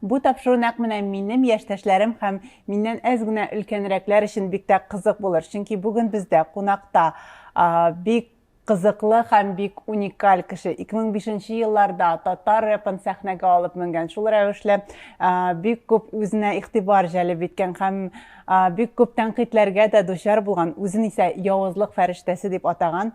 Бу тапшыру нәкъ менә минем яшьтәшләрем һәм миннән әз генә өлкәнрәкләр өчен бик тә кызык булыр, чөнки бүген бездә кунакта бик кызыклы һәм бик уникаль кеше. 2005 елларда татар рэпын сәхнәгә алып менгән, шул рәвешле бик күп үзенә игътибар җәлеп иткән һәм бик күп тәнкыйтьләргә дә дучар булган, үзен исә явызлык фәрештәсе дип атаган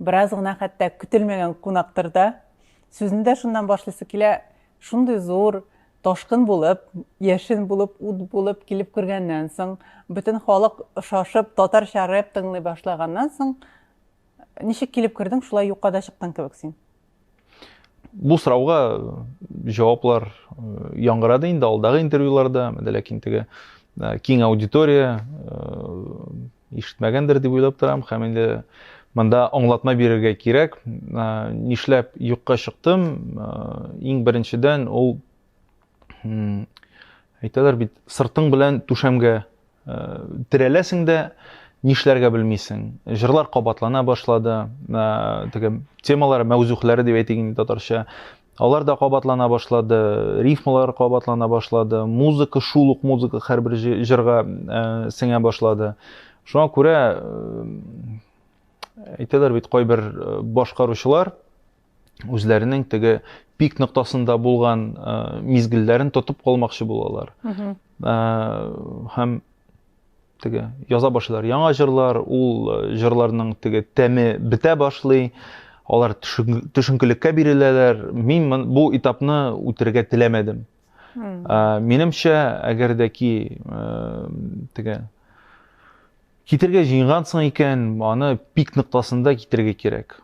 Бераз гына хәтта көтелмәгән кунактыр да. Сүзне дә шуннан башлыйсы килә, шундый зур, ташкын булып, яшен булып, ут булып килеп кергәннән соң, бөтен халык шашып, татарча рэп тыңлый башлаганнан соң, ничек килеп кердең, шулай юкка да чыктың кебек син. Бу сорауга җаваплар яңгырады инде алдагы интервьюларда, менә ләкин теге киң аудитория ишетмәгәндер дип уйлап торам һәм инде монда аңлатма бирергә кирәк. Нишләп юкка чыктым? Иң беренчедән ул әйтәләр бит сыртың белән түшәмгә э, терәләсең дә нишләргә белмисең җырлар кабатлана башлады э, теге темалар мәүзухләре дип әйтик инде татарча алар да кабатлана башлады рифмалар кабатлана башлады музыка шул ук музыка һәрбер җырга э, сеңә башлады шуңа күрә әйтәләр бит кайбер башкаручылар үзләренең теге пик ноктасында булган ә, мизгелләрен тотып калмакчы булалар. Ә, һәм теге яза башлар яңа җырлар, ул э, җырларның теге тәме бетә башлый, алар төшенкелеккә биреләләр. Мин бу этапны үтергә теләмәдем. Ә, минемчә, әгәр дә ки э, теге китергә җыенгансың икән, аны пик ноктасында китергә кирәк.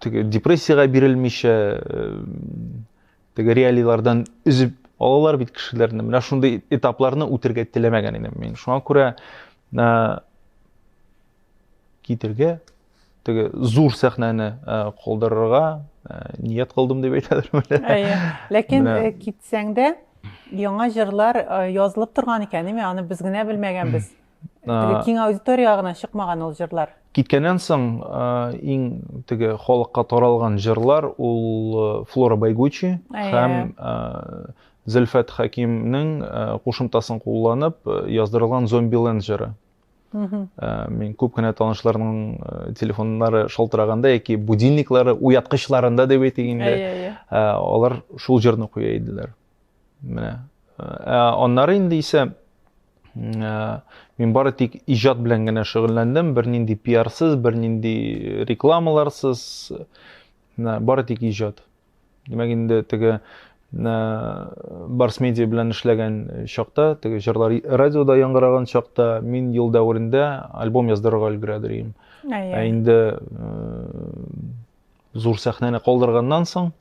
теге депрессиягә бирелмичә теге реалийлардан өзеп алалар бит кешеләрне менә шундый этапларны үтергә теләмәгән идем мин шуңа күрә китергә теге зур сәхнәне калдырырга ният кылдым дип әйтәдер ләкин китсәң дә яңа җырлар язылып торган икән ме аны без генә белмәгәнбез Теге киң аудиториягә гына чыкмаган ул җырлар. Киткәннән соң иң теге халыкка таралган җырлар ул Флора Байгучи һәм Зөлфәт Хәкимнең кушымтасын кулланып яздырылган Зомбиленд җыры. Мин күп кенә танышларның телефоннары шалтыраганда яки будильниклары уяткычларында дип әйтик инде, алар шул җырны куя иделәр. Менә. Ә аннары инде исә мин бары тик иҗат белән генә шөгыльләндем, бернинди пиарсыз, бернинди рекламаларсыз, бары тик иҗат. Димәк инде теге Барс медиа белән эшләгән чакта, теге җырлар радиода яңгыраган чакта мин ел дәверендә альбом яздырырга өлгерәдер идем. Ә инде зур сәхнәне калдырганнан соң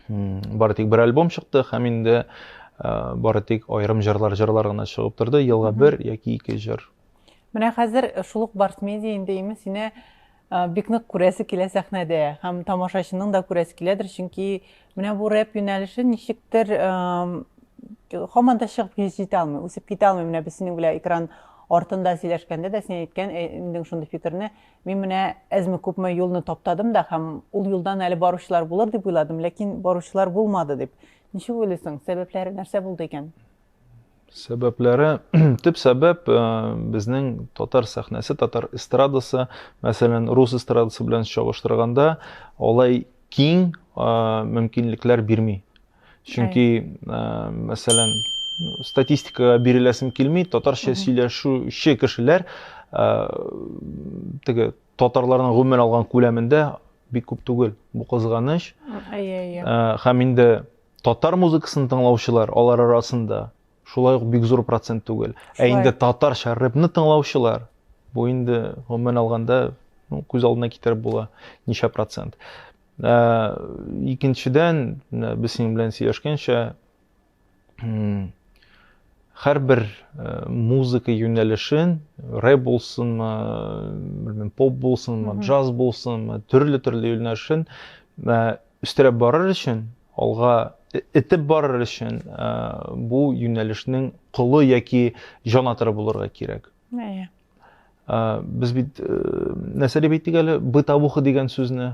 бары тик бер альбом чыкты һәм инде э, бары тик аерым җырлар җырлар гына чыгып торды елга бер яки ике җыр менә хәзер шул ук барс медиа инде имин сине э, бик нык күрәсе килә сәхнәдә һәм тамашачының да күрәсе киләдер чөнки менә бу рэп юнәлеше ничектер һаман да чыгып китә алмый үсеп китә алмый менә без синең белән экран артында сөйләшкәндә дә син әйткән инең шундый фикерне Мин менә әзме-күпме юлны таптадым да һәм ул юлдан әле баручылар булыр дип уйладым, ләкин баручылар булмады, дип. Ничек уйлыйсың, сәбәпләре нәрсә булды икән? Сәбәпләре, төп сәбәп э, безнең татар сәхнәсе, татар эстрадасы, мәсәлән, рус эстрадасы белән чагыштырганда, алай киң э, мөмкинлекләр бирми. чөнки мәсәлән статистикага биреләсем килми татарча сөйләшүче кешеләр теге татарларның гомумән алган күләмендә бик күп түгел бу кызганыч һәм инде татар музыкасын тыңлаучылар алар арасында шулай ук бик зур процент түгел ә инде татарча рэпны тыңлаучылар бу инде гомумән алганда күз алдына китереп була ничә процент Ә, икенчедән, менә без синең белән сөйләшкәнчә, һәрбер э, музыка юнәлешен, рэп булсынмы, белмим, поп булсынмы, джаз булсынмы, төрле-төрле юнәлешен э, өстерәп барыр өчен, алга итеп барыр өчен, э, бу юнәлешнең колы яки җанатыры булырга кирәк. Әйе. Без бит нәрсә дип әйттек әле? Бытовуха дигән сүзне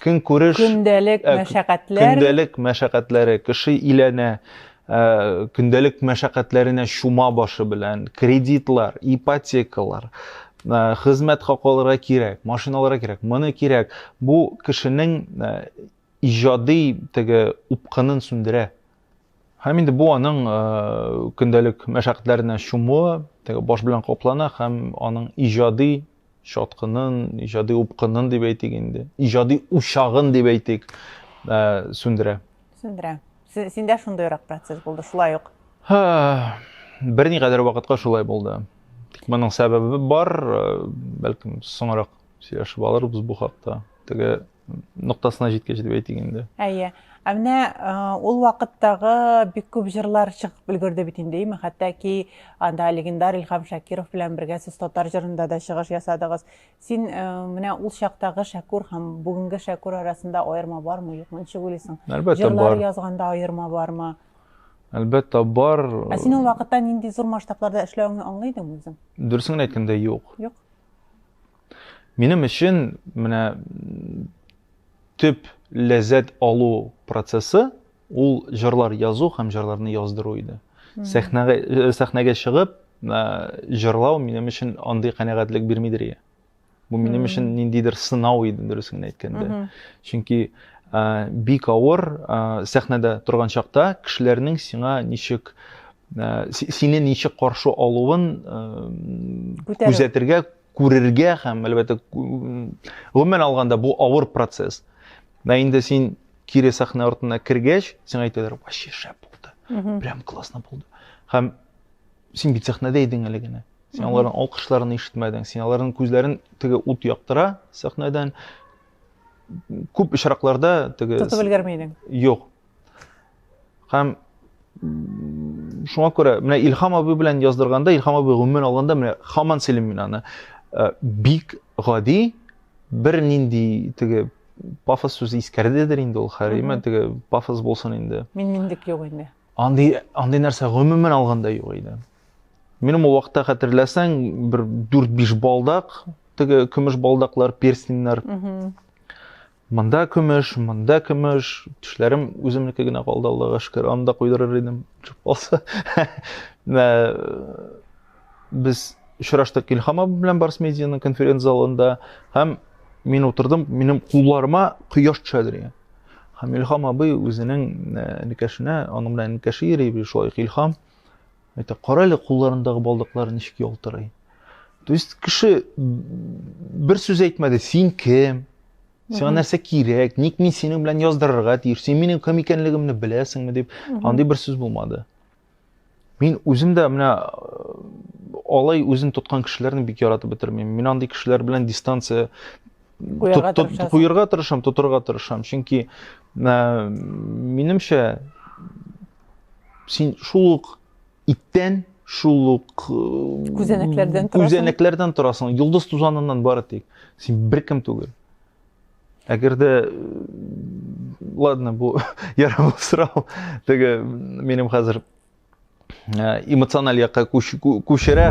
көн күреш көндәлек ә, мәшәкатьләр көндәлек мәшәкатьләре кеше иләнә ә, көндәлек мәшәкатьләренә чума башы белән кредитлар ипотекалар ә, хезмәт хакылары кирәк машиналары кирәк моны кирәк бу кешенең ә, иҗади теге упкынын сүндерә Һәм инде бу аның э, көндәлек мәшәкатьләренә чумуы, теге баш белән каплана һәм аның иҗади чаткынын, иҗади упкынын дип әйтик инде, иҗади учагын дип әйтик, э, сүндерә. Сүндерә. Синдә шундыйрак процесс булды, шулай ук. Һа, берникадәр вакытка шулай булды. Тик моның сәбәбе бар, э, бәлкем соңрак сөйләшеп алырбыз бу хакта. Теге ноктасына җиткәч дип әйтик инде әйе ә менә ул вакыттагы бик күп җырлар чыгып өлгерде бит инде име хәтта ки анда легендар илһам шакиров белән бергә сез татар җырында да чыгыш ясадыгыз син менә ул чактагы шәкүр һәм бүгенге шәкүр арасында аерма бармы юкмы ничек уйлыйсың әлбәттә җырлар язганда аерма бармы әлбәттә бар ә син ул вакытта нинди зур масштабларда эшләвеңне аңлый идеңме үзең дөресен генә әйткәндә юк юк Минем өчен менә төп ләззәт алу процессы ул җырлар язу һәм җырларны яздыру иде. Сәхнәгә э, сәхнәгә чыгып э, җырлау минем өчен андый канәгатьлек бирмидер иде. Бу минем өчен ниндидер сынау иде, дөрес генә әйткәндә. Чөнки э, бик авыр сәхнәдә торган чакта кешеләрнең сиңа ничек сине ничек каршы алуын күзәтергә күрергә һәм, әлбәттә, гомумән алганда бу авыр процесс. Ә инде син кире сәхнә артына кергәч, сиңа әйтәләр, вообще шәп булды, прям классно булды. Һәм син бит сәхнәдә идең әле генә. Син аларның алкышларын ишетмәдең, син аларның күзләрен теге ут яктыра сәхнәдән. Күп очракларда теге... Тотып өлгерми идең? Юк. Һәм шуңа күрә менә Илһам абый белән яздырганда, Илһам абый гомумән алганда менә хаман сөйлим мин аны. Э, бик гади бер нинди теге пафос сүзе искәрдедер инде ул хәриме, теге пафос булсын инде. Мин миндек юк инде. Андый андый нәрсә гомумән алганда юк иде. Минем ул вакытта хәтерләсәң, бер 4-5 балдак, теге көмеш балдаклар, перстеньнар. Монда көмеш, монда көмеш, тешләрем үземнеке генә калды, Аллага шөкер, аны да куйдырыр идем, чүп калса. Без очраштык Илхам абый белән Барс медианың конференц-залында һәм мин утырдым, минем кулларыма кояш төшә дигән. Һәм Илхам абый үзенең никәшенә, аның белән никәше йөри, шулай Илхам Әйтә, кара әле кулларындагы балдаклары ничек ялтырый. То есть кеше бер сүз әйтмәде, син кем? Сиңа нәрсә кирәк? Ник мин синең белән яздырырга тиеш? Син минем кем икәнлегемне беләсеңме дип, андый бер сүз булмады. Мин үзем дә менә алай үзен тоткан кешеләрне бик яратып бетермим. Мин андый кешеләр белән дистанция куярга тырышам, тотырга тырышам. Чөнки минемчә син шул ук иттән шул ук э, күзәнәкләрдән торасың күзәнәкләрдән торасың йолдыз тузаныннан бары тик син беркем түгел әгәр дә э, ладно бу ярамлы сорау теге минем хәзер э, эмоциональ якка күчерә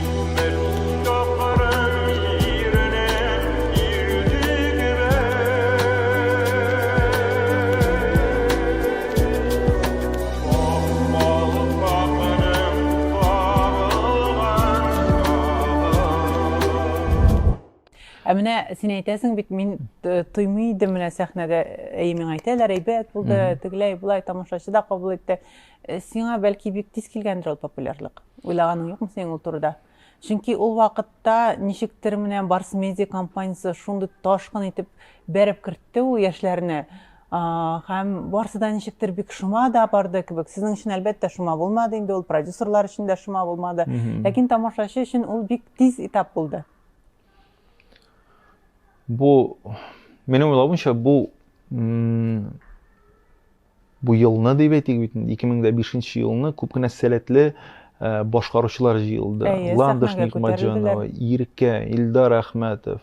Ә менә син әйтәсең бит, мин э, тоймый идем менә сәхнәдә, әй миңа әйтәләр, әйбәт булды, тегеләй, болай тамашачы да кабул итте. Э, сиңа бәлки бик тиз килгәндер ул популярлык? Уйлаганың юкмы синең ул турыда? Чөнки ул вакытта ничектер менә Барс Медиа компаниясе шундый ташкын итеп бәреп кертте ул яшьләрне, һәм барсы да ничектер бик шома да барды кебек. Сезнең өчен, әлбәттә, шома булмады инде ул, продюсерлар өчен дә шома булмады. Ләкин тамашачы өчен ул бик тиз этап булды. Бу, минем уйлавымча, бу Бу елны дип әйтик бит, 2005 нче елны күп кенә сәләтле Э, башкаручылар җыелды. Ландыш Никмаҗанова, Иркә, Илдар Әхмәтов,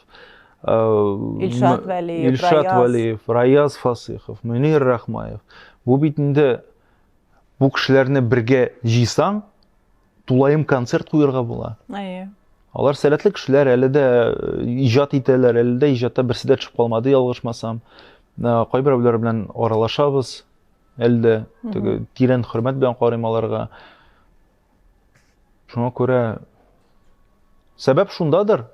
э, Илшат Вәлиев, Илшат Вәлиев, Раяз Фасыхов, Мөнир Рахмаев. Бу бит инде бу кешеләрне бергә җыйсаң, тулаем концерт куярга була әйе алар сәләтле кешеләр әле дә э, иҗат итәләр әле дә иҗатта берсе дә төшеп калмады ялгышмасам э, кайберәүләр белән аралашабыз әле дә теге тирән хөрмәт белән карыйм аларга шуңа күрә сәбәп шундадыр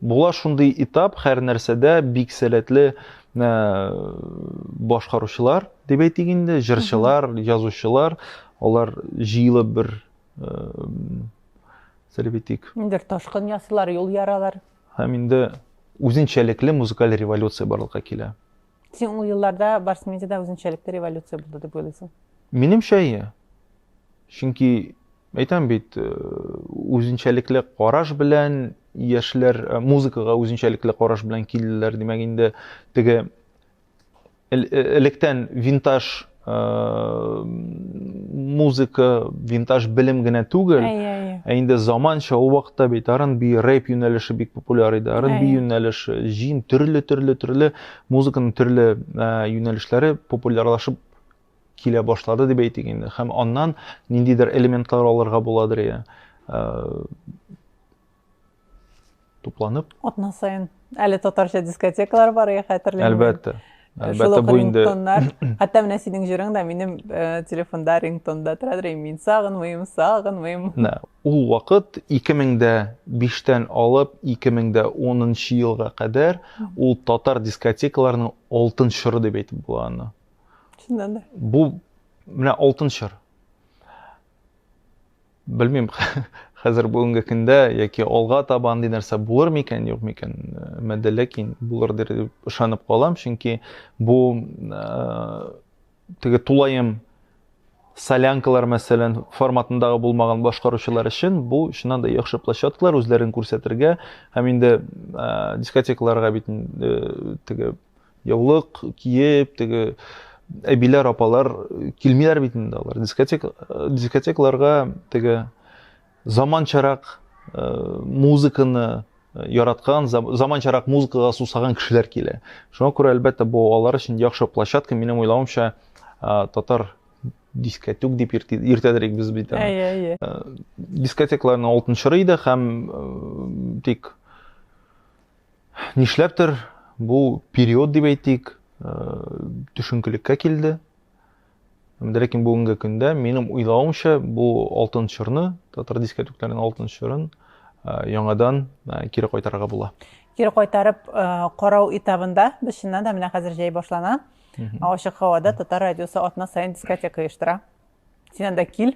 Була шундый этап һәр нәрсәдә бик сәләтле башкаручылар дип әйтик инде, җырчылар, язучылар, алар җыелып бер сәлеп әйтик. Бер ташкын ясыйлар, юл яралар. Һәм инде үзенчәлекле музыкаль революция барлыкка килә. Син ул елларда Барс медиада үзенчәлекле революция булды дип уйлыйсың? Минемчә, иә. Чөнки Әйтәм бит, э, үзенчәлекле караш белән яшьләр э, музыкага үзенчәлекле караш белән килделәр. Димәк, инде теге э, электән винтаж музыка, винтаж белем генә түгел, ә инде заманча ул вакытта бит R&B, рэп юнәлеше бик популяр иде. R&B юнәлеше, җин төрле-төрле-төрле музыканың төрле юнәлешләре популярлашып килә башлады дип әйтик инде. Һәм аннан ниндидер элементлар алырга буладыр я. Э, тупланып. Атна сайын әле татарча дискотекалар бар я хәтерлим. Әлбәттә. Э, Әлбәттә бу инде. Хәтта менә синең җырың да минем э, телефонда рингтонда торадыр, мин сагынмыйм, сагынмыйм. Менә ул вакыт 2005-тән алып 2010 елга кадәр ул татар дискотекаларының алтын чоры дип әйтеп була аны. Чыннан да. Бу менә алтын чор. Белмим, хәзер бүгенге көндә яки алга таба андый нәрсә булыр микән, юк микән? Мәдә ләкин булыр дип ышанып калам, чөнки бу э, теге тулаем солянкалар мәсәлән форматындагы булмаган башкаручылар өчен бу чыннан да яхшы площадкалар үзләрен күрсәтергә һәм инде ә, дискотекаларга бит ә, теге Яулык киеп, теге әбиләр, апалар килмиләр бит инде алар. Дискотек, дискотекларга теге заманчарак э, музыканы яраткан, заманчарак музыкага сусаган кешеләр килә. Шуңа күрә, әлбәттә, бу алар өчен яхшы площадка. Минем уйлавымча, э, татар дискотек дип иртәдерек без бит аны. Әйе, әйе. Э, дискотекларның алтын чоры иде һәм э, тик Нишләптер бу период дип әйтик, э, төшенкелеккә килде. Ләкин бүгенге көндә минем уйлавымча бу алтын чорны, татар дискә түкләнгән алтын чорын э, яңадан э, кире кайтарырга була. Кире кайтарып карау этабында без чыннан да менә хәзер җәй башлана. Ачык һавада татар радиосы атна саен дискотека оештыра. Син анда кил.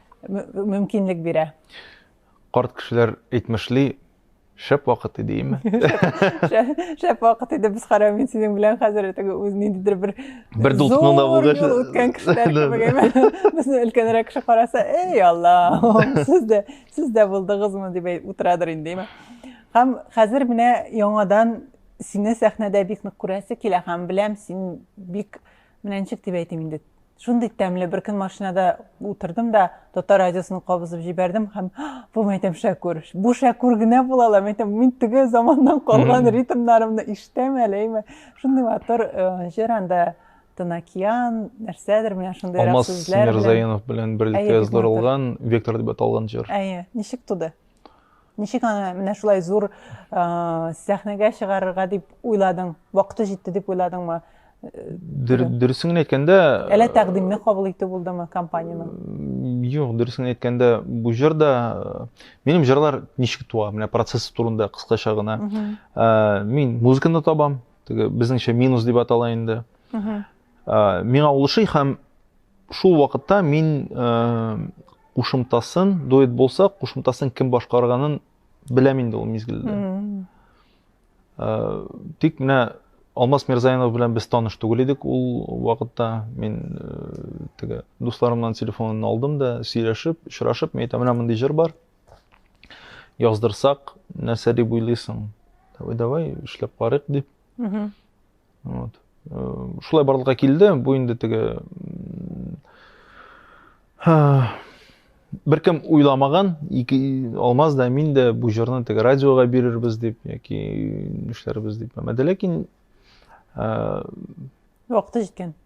мөмкинлек бирә. Карт кешеләр әйтмешли, шәп вакыт иде, име? Шәп вакыт иде, без карау мин синең белән хәзер теге үз ниндидер бер бер дулкынында булгач, үткән кешеләр кебек име? Безне өлкәнрәк кеше караса, эй, Алла, сез дә сез дә булдыгызмы дип утырадыр инде, име? Һәм хәзер менә яңадан сине сәхнәдә бик нык күрәсе килә һәм беләм, син бик Менә ничек дип әйтим инде. Шундый тәмле бер көн машинада утырдым да, татар радиосын кабызып җибәрдем һәм бу мәйтәм Шәкүр. Бу Шәкүр генә була ла, мәйтәм, мин теге заманнан калган ритмнарымны ишетәм әле, әйме. Шундый матур э, җыр анда Тынакиян, нәрсәдер менә шундый Алмаз Мирзаинов белән берлектә язылдырылган Вектор дип аталган җыр. Әйе, ничек туды? Ничек аны менә шулай зур сәхнәгә чыгарырга дип уйладың? Вакыты җитте дип уйладыңмы? Дөресен генә әйткәндә, әле тәкъдимне кабул итү булдымы компаниянең? Юк, дөресен әйткәндә, бу җыр да минем җырлар ничек туа, менә процессы турында кыскача гына. Мин музыканы табам, теге безнеңчә минус дип атала инде. Миңа ул ошый һәм Шул вакытта мин кушымтасын, дуэт булса, кушымтасын кем башкарганын беләм инде ул мизгелдә. Тик менә Алмаз Мирзаянов белән без таныш түгел идек ул вакытта. Мин теге дусларымнан телефонын алдым да, сөйләшеп, очрашып, мин әйтәм, менә мондый җыр бар. Яздырсак, нәрсә дип уйлыйсың? Давай, давай, эшләп карыйк дип. Вот. Шулай барлыкка килде. Бу инде теге беркем уйламаган, ике Алмаз да мин дә бу җырны теге радиога бирербез дип яки нишләрбез дип мәмәде, ләкин вакыты җиткән.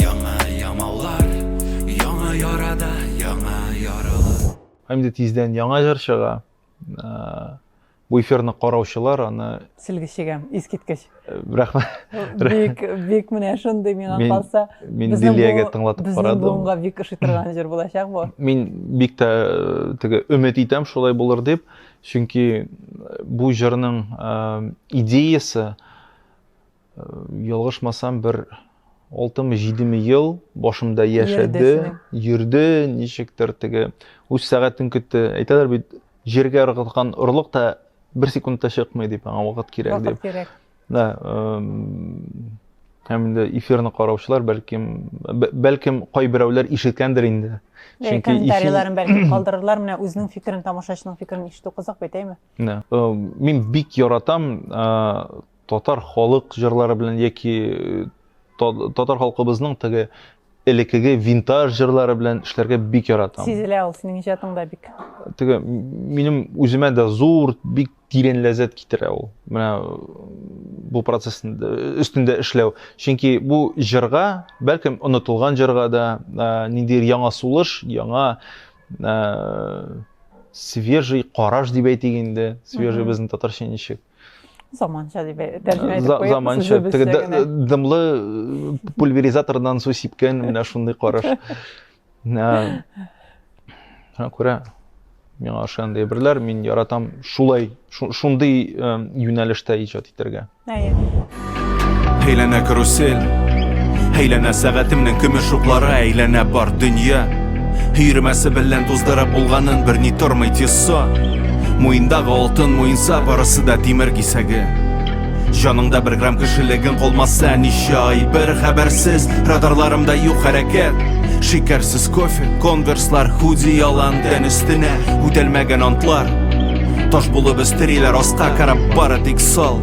Яңа ямаулар, яңа ярада, яңа яралы. Инде тиздән яңа җыр чыга. Бу эфирны караучылар аны Сөлге чигәм, искиткеч. Рәхмәт. Бик, бик менә шундый миңа калса. Мин Лилиягә тыңлатып карадым. Безнең буынга бик ошый торган җыр булачак бу. Мин бик тә теге өмет итәм шулай булыр дип, чөнки бу җырның идеясе Ялгышмасам, бер алтымы, җидеме ел башымда яшәде, йөрде, ничектер теге үз сәгатен көтте. Әйтәләр бит, җиргә ыргыткан орлык та бер секундта чыкмый дип, аңа вакыт кирәк дип. Вакыт кирәк. Да, һәм инде эфирны караучылар бәлкем бәлкем кайберәүләр ишеткәндер инде. Чөнки комментарийларын бәлкем калдырырлар, менә үзенең фикерен, тамашачының фикерен ишетү кызык бит, әйме? Да. Мин бик яратам Татар халык җырлары белән яки татар халкыбызның теге элекеге винтаж җырлары белән эшләргә бик яратам. Сизелә ул синең иҗатыңда бик. Теге минем үземә дә зур, бик тирән ләззәт китерә ул. Менә бу процесс өстендә эшләү. Чөнки бу җырга, бәлкем онытылган җырга да ниндидер яңа сулыш, яңа свежий караш дип әйтик инде. Свежий безнең татарча ничек? Заманча дип тәрҗемә итеп куябыз. Заманча, дымлы пульверизатордан су сипкән менә шундый караш. Күрә, миңа ошаган әйберләр, мин яратам шулай, шундый юнәлештә иҗат итәргә. Әйе. Әйләнә карусель Әйләнә сәгатемнең көмеш уклары Әйләнә бар дөнья Өйрәмәсе белән туздырып булганын Берни тормый тиссо Муендагы алтын муенса Барысы да тимер кисәге Җаныңда бер грамм кешелегең калмаса Ничә ай бер хәбәрсез Радарларымда юк хәрәкәт Шикәрсез кофе, конверслар, худи ялан тән өстенә Үтәлмәгән антлар Таш булып өстериләр аска карап бары тик сал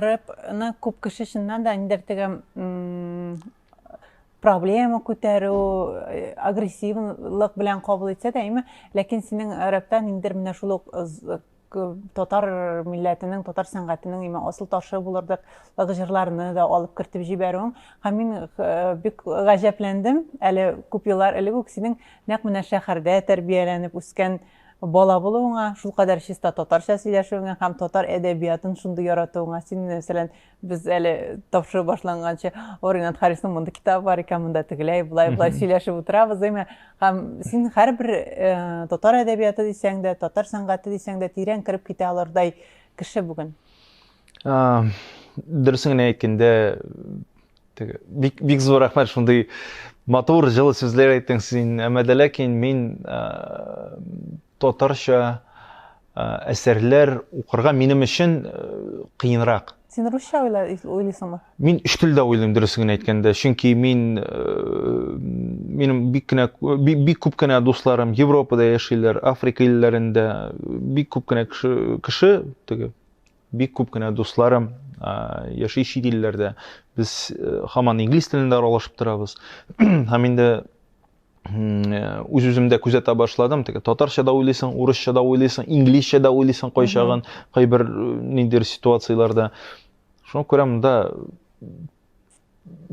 рэпны күп кеше чыннан да ниндер теге проблема күтәрү э, агрессивлык белән кабул итсә дә әйме ләкин синең рэпта ниндер менә шул ук татар милләтенең, татар сәнгатенең имә асыл ташы булырдык җырларны да алып кертеп җибәрүең. Һәм мин э, бик гаҗәпләндем. Әле күп еллар элек үк синең нәкъ менә шәһәрдә тәрбияләнеп үскән бала булуыңа, шулкадәр чиста татарча сөйләшүеңә һәм татар әдәбиятын шундый яратуыңа, син мәсәлән, Без әле тапшыру башланганчы, о, Ренат Харисның монда китабы бар икән, монда тегеләй, былай, былай сөйләшеп утырабыз, димә. Һәм син һәрбер э, татар әдәбияты дисәң дә, татар сәнгате дисәң дә тирән кереп китә алырдай кеше бүген. А, дөресен генә әйткәндә, бик бик зур рәхмәт шундый матур җылы сүзләр әйттең син. Әмма дә ләкин мин э, Татарча әсәрләр укырга минем өчен кыенрак. Син русча уйлыйсыңмы? Мин өч телдә уйлыйм, дөресен генә әйткәндә. Чөнки мин, минем бик кенә, бик күп кенә дусларым Европада яшиләр, Африка илләрендә. Бик күп кенә кеше, теге, бик күп кенә дусларым яши чит илләрдә. Без хаман инглиз телендә аралашып торабыз. Һәм инде үз үземдә күзәтә башладым теге татарча да уйлыйсың урысча да уйлыйсың инглизчә да уйлыйсың кайчагын кайбер ниндидер ситуацияләрдә шуңа күрә монда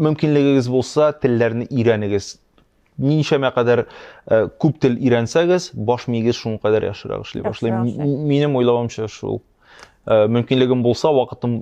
мөмкинлегегез булса телләрне өйрәнегез ничәмә кадәр э, күп тел өйрәнсәгез баш миегез шуңа кадәр яхшырак эшли башлый минем уйлавымча шул э, мөмкинлегем булса вакытым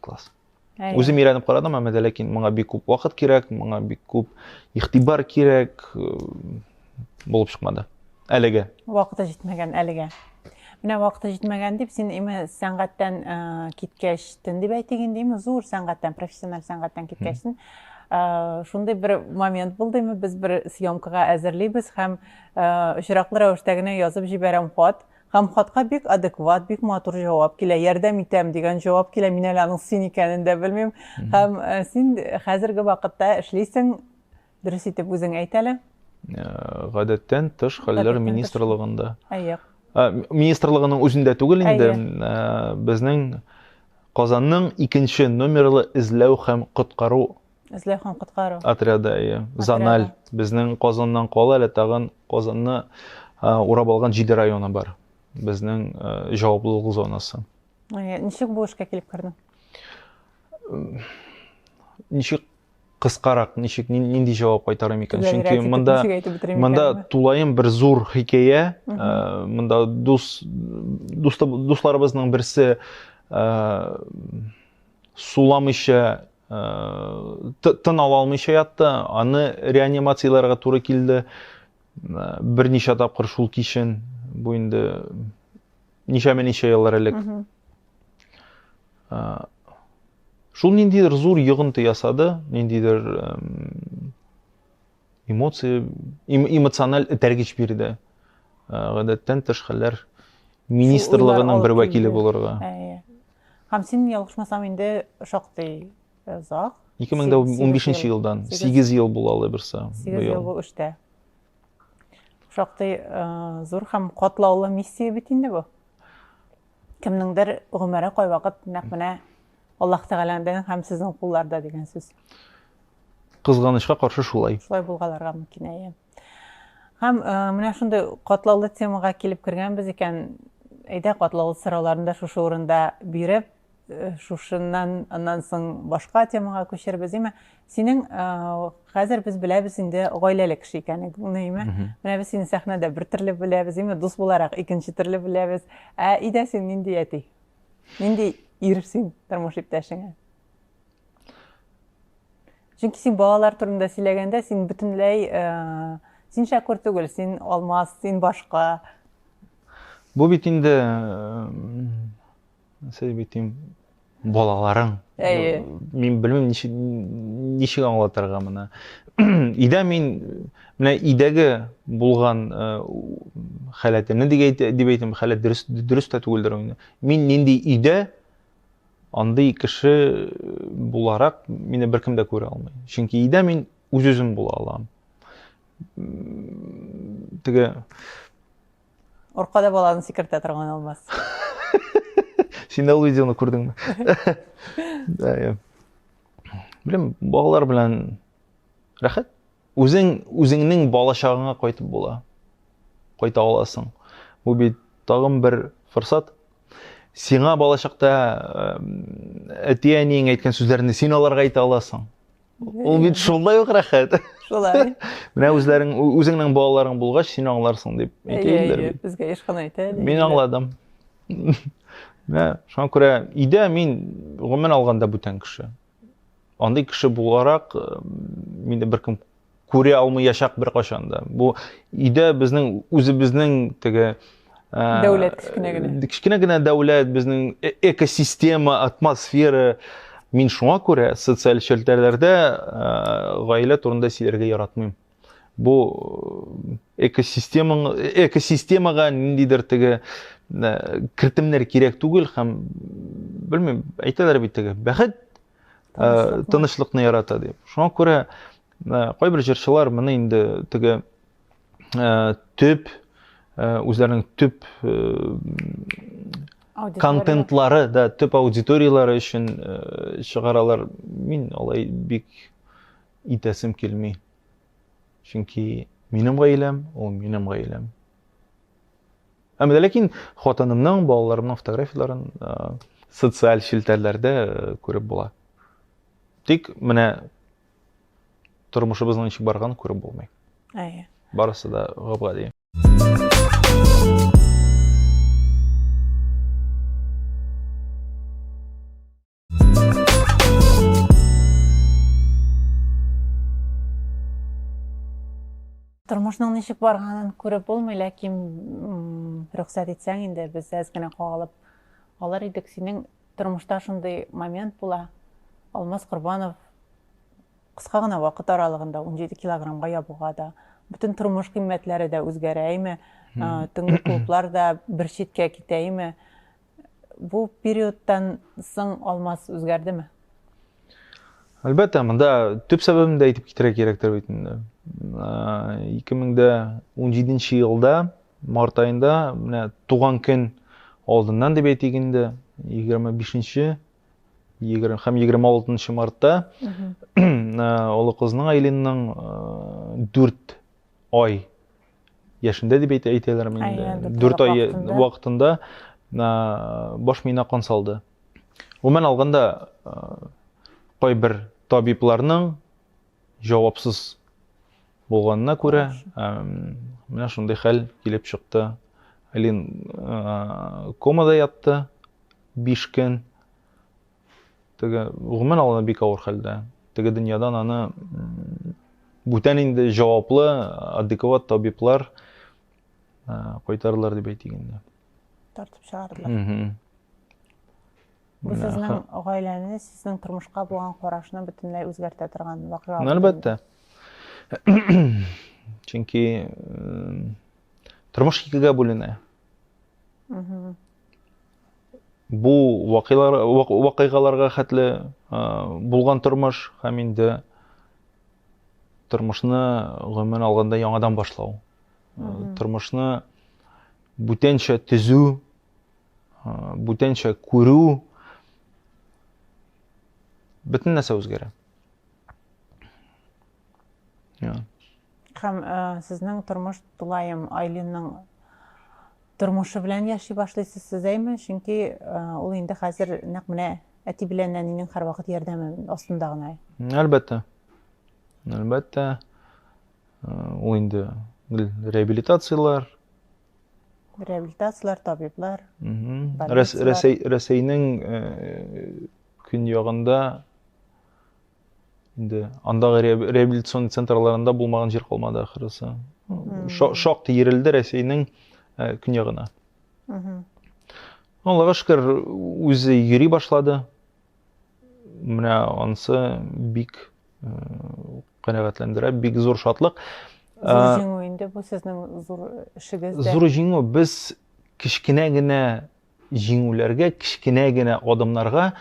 класс үзем өйрәнеп карадым әмма дә ләкин моңа бик күп вакыт кирәк моңа бик күп игътибар кирәк булып чыкмады әлегә вакыты җитмәгән әлегә менә вакыты җитмәгән дип син име сәнгатьтән киткәч төн дип әйтик инде име зур сәнгатьтән профессиональ сәнгатьтән киткәчтен шундый бер момент булды име без бер съемкага әзерлибез һәм очраклы рәвештә генә язып җибәрәм хат Һәм хатка бик адекват, бик матур җавап килә. Ярдәм итәм дигән җавап килә. Мин әле аның син икәнен дә белмим. Һәм э, син хәзерге вакытта эшлисең, дөрес итеп үзең әйт әле. Э, гадәттән тыш хәлләр министрлыгында. Әйе. Э, министрлыгының үзендә түгел инде, э, безнең Казанның икенче номерлы эзләү һәм коткару Эзләү һәм коткару. Отряды, әйе. Заналь. Безнең Казаннан кала әле тагын Казанны урап алган җиде районы бар. Безнең җаваплылык зонасы. Ничек бу эшкә килеп кердең? Ничек кыскарак, ничек, нинди җавап кайтарым икән? Чөнки монда монда тулаем бер зур хикәя. Монда дус дусларыбызның берсе суламыйча э, тын ала алмыйча ятты аны реанимацияләргә туры килде берничә тапкыр шул кичен бу инде ничәме ничә еллар элек шул ниндидер зур йогынты ясады ниндидер эмоция эмоциональ этәргеч бирде гадәттән тыш хәлләр министрлыгының бер вәкиле булырга һәм син ялгышмасам инде шактый озак 2015 елдан 8 ел булалы берсе 8 ел бу эштә шактый зур һәм катлаулы миссия бит инде бу Кемнеңдер гомере кайвакыт нәкъ менә Аллаһ Тәгаләнең һәм сезнең кулларда дигән сүз. Кызганычка каршы шулай. Шулай булгаларга мөмкин әйе. Һәм э, менә шундый катлаулы темага килеп кергәнбез икән, әйдә катлаулы сорауларны да шушы урында биреп, э, шушыннан аннан соң башка темага күчербез, әйме? Синең э, хәзер без беләбез инде гаиләле кеше икәнеңне, име? Менә без сине сәхнәдә бер төрле беләбез, име? Дус буларак икенче төрле беләбез. Ә өйдә син нинди әти? Нинди ир син тормыш иптәшеңә? Чөнки син балалар турында сөйләгәндә, син бөтенләй э, син шәкүр түгел, син алмаз, син башка. Бу бит инде э, Сез бит им балаларың. Әйе. Мин белмим ничек ничек аңлатырга моны. Идә мин менә идәге булган э, халәтемне дип әйтә дип әйтәм, халәт дөрес дөрес тә түгелдер инде. Мин нинди идә андый кеше буларак мине беркем дә күрә алмый. Чөнки идә мин үз-үзем була алам. Теге Оркада баланы сикертә торган алмаз. Син дә ул видеоны күрдеңме? Да, я. Белем, балалар белән рәхәт. Үзең үзеңнең балачагыңа кайтып була. Кайта аласың. Бу бит тагын бер форсат. Сиңа балачакта әти-әниең әйткән сүзләрне син аларга әйтә аласың. Ул бит шулай ук рәхәт. Шулай. Менә үзләрең үзеңнең балаларың булгач, син аңларсың дип әйтәләр бит. Безгә еш кына әйтә. Мин аңладым. Менә шуңа күрә өйдә мин гомумән алганда бүтән кеше. Андый кеше буларак э, мине беркем күрә алмыячак беркайчан да. Бу өйдә безнең үзебезнең теге ә, дәүләт кечкенә генә. Кечкенә генә дәүләт, безнең э, экосистема, атмосфера. Мин шуңа күрә социаль челтәрләрдә ә, гаилә турында сөйләргә яратмыйм. Бу э, экосистемаң экосистемага ниндидер теге кертемнәр кирәк түгел һәм белмим, әйтәләр бит теге бәхет тынычлыкны ярата дип. Шуңа күрә Ә, кайбер җырчылар моны инде теге ә, төп ә, үзләренең төп ә, Аудитория. контентлары да төп аудиторияләре өчен ә, чыгаралар. Мин алай бик итәсем килми. Чөнки минем гаиләм, ул минем гаиләм. Әмма дә ләкин хатынымның, балаларымның фотографияләрен ә, социаль челтәрләрдә ә, күреп була. Тик менә Тормышыбызның ничек барганын күреп булмый. Әйе. Барысы да гап-гади. Тормышның ничек барганын күреп булмый, ләкин рөхсәт итсәң инде без әз генә кагалып алар идек. Синең Тормышта шундый момент була, Алмаз Корбанов кыска гына вакыт аралыгында 17 килограммга ябуга да, бөтен тормыш кыйммәтләре дә үзгәрәйме, төнге клублар да бер читкә китәйме, бу периодтан соң Алмаз үзгәрдеме? Әлбәттә, монда төп сәбәбен дә әйтеп китерә кирәктер бит инде. 2017 елда Март аенда менә туган көн алдыннан дип әйтик инде, 25-нче һәм 26 мартта олы кызның Айлинның 4 ай яшендә дип әйтәләр инде. 4 ай вакытында баш миенә кан салды. Гомумән алганда кайбер табибларның җавапсыз булганына күрә, менә шундый хәл килеп чыкты. Алин комада ятты 5 көн. Теге гомумән алганда бик авыр хәлдә. Теге дөньядан аны бүтән инде җаваплы, адекват табиблар кайтардылар дип әйтик инде. Тартып чыгардылар. Бу сезнең гаиләне, сезнең тормышка булган карашны бөтенләй үзгәртә торган вакыйга. Әлбәттә. Чөнки тормыш икегә бүленә. Бу вакыйгаларга хәтле булган тормыш һәм инде тормышны гомумән алганда яңадан башлау. Тормышны бүтәнчә төзү бүтәнчә күрү, бөтен нәрсә үзгәрә. Һәм э, сезнең тормыш тулаем Айлинның тормышы белән яши башлыйсыз сезәйме? Чөнки э, ул инде хәзер нәкъ менә әти белән әнинең һәрвакыт ярдәме астында гына. Әлбәттә. Әлбәттә. Э, ул инде реабилитацияләр, реабилитацияләр табиблар рәсәйнең э, көньягында инде андагы реабилитацион центрларында булмаган җир калмады ахрысы шактый ерелде рәсәйнең э, көньягына аллага шөкер үзе йөри башлады Менә ансы бик канәгатьләндерә, бик зур шатлык. Зур җиңү инде бу сезнең зур эшегез. Зур җиңү без кечкенә генә җиңүләргә, кечкенә генә адымнарга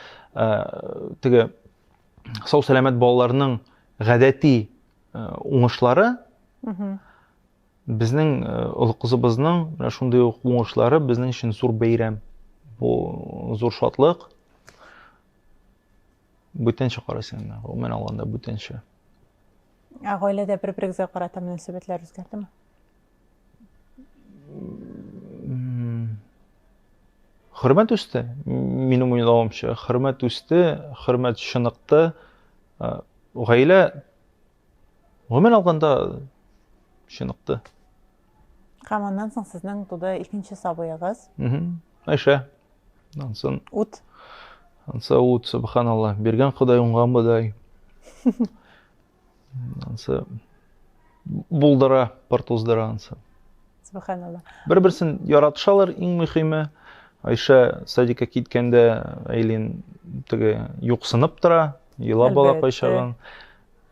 теге сау сәламәт балаларның гадәти уңышлары Безнең э, олы кызыбызның менә шундый ук уңышлары безнең өчен зур бәйрәм. Бу зур шатлык. Бүтәнчә карыйсың инде, гомумән алганда бүтәнчә. Ә гаиләдә бер-берегезгә карата мөнәсәбәтләр үзгәрдеме? Хөрмәт үсте, минем уйлавымча, хөрмәт үсте, хөрмәт чыныкты. Э, гаилә Гомумән алганда чыныкты. Һәм аннан соң сезнең туды икенче сабыегыз. Айша. Ансын. Ут. Анса ут, субханалла. Биргән Ходай уңган бодай. Ансы булдыра, пыр туздыра ансы. Субханалла. Бер-берсен яратышалар, иң мөһиме. Айша садикка киткәндә Айлин теге юксынып тора, елап бала кайшаган.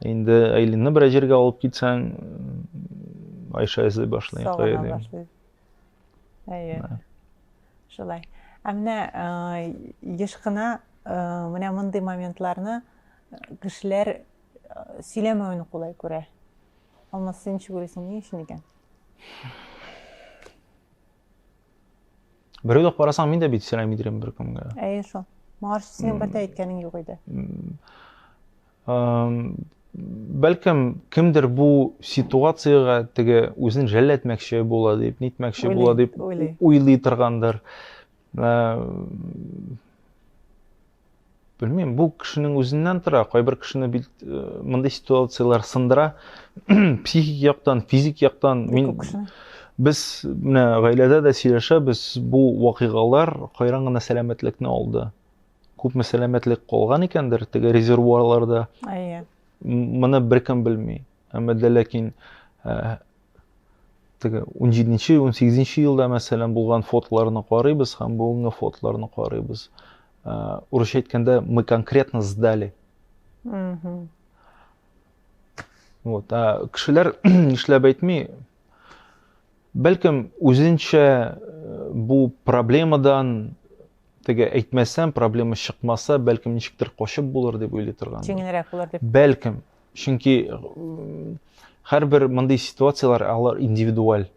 Инде Айлинны берәр җиргә алып китсәң, Айша эзли башлый. Сагына башлый. Әйе. Шулай. Ә менә еш кына менә мондый моментларны кешеләр сөйләмәвен кулай күрә. Алмаз, син ничек уйлыйсың, ни өчен икән? Бер уйлап карасаң, мин дә бит сөйләми идем беркемгә. Әйе шул. Моңарчы синең бер дә әйткәнең юк иде. Бәлкем, кемдер бу ситуациягә теге үзен жәлләтмәкче була дип, нитмәкче була дип уйлый торгандыр. Белмим, бу кешенең үзеннән тора. Кайбер кешене бит э, мондый ситуацияләр сындыра. Психик яктан, физик яктан мин без менә гаиләдә дә сөйләшәбез, бу вакыйгалар кайран гына сәламәтлекне алды. күпме сәламәтлек калган икәндер теге резервуарларда әйе моны беркем белми әмма дә ләкин ә, теге 17-нче 18-нче елда мәсәлән булган фотоларны карыйбыз һәм бүгенге фотоларны карыйбыз ә, урысча әйткәндә мы конкретно сдали вот ә, кешеләр нишләп әйтми бәлкем үзенчә э, бу проблемадан Теге әйтмәсәм, проблема чыкмаса, бәлкем ничектер качып булыр дип уйлый торган. Җиңелрәк булыр дип. Бәлкем. Чөнки һәрбер мондый ситуацияләр алар индивидуаль.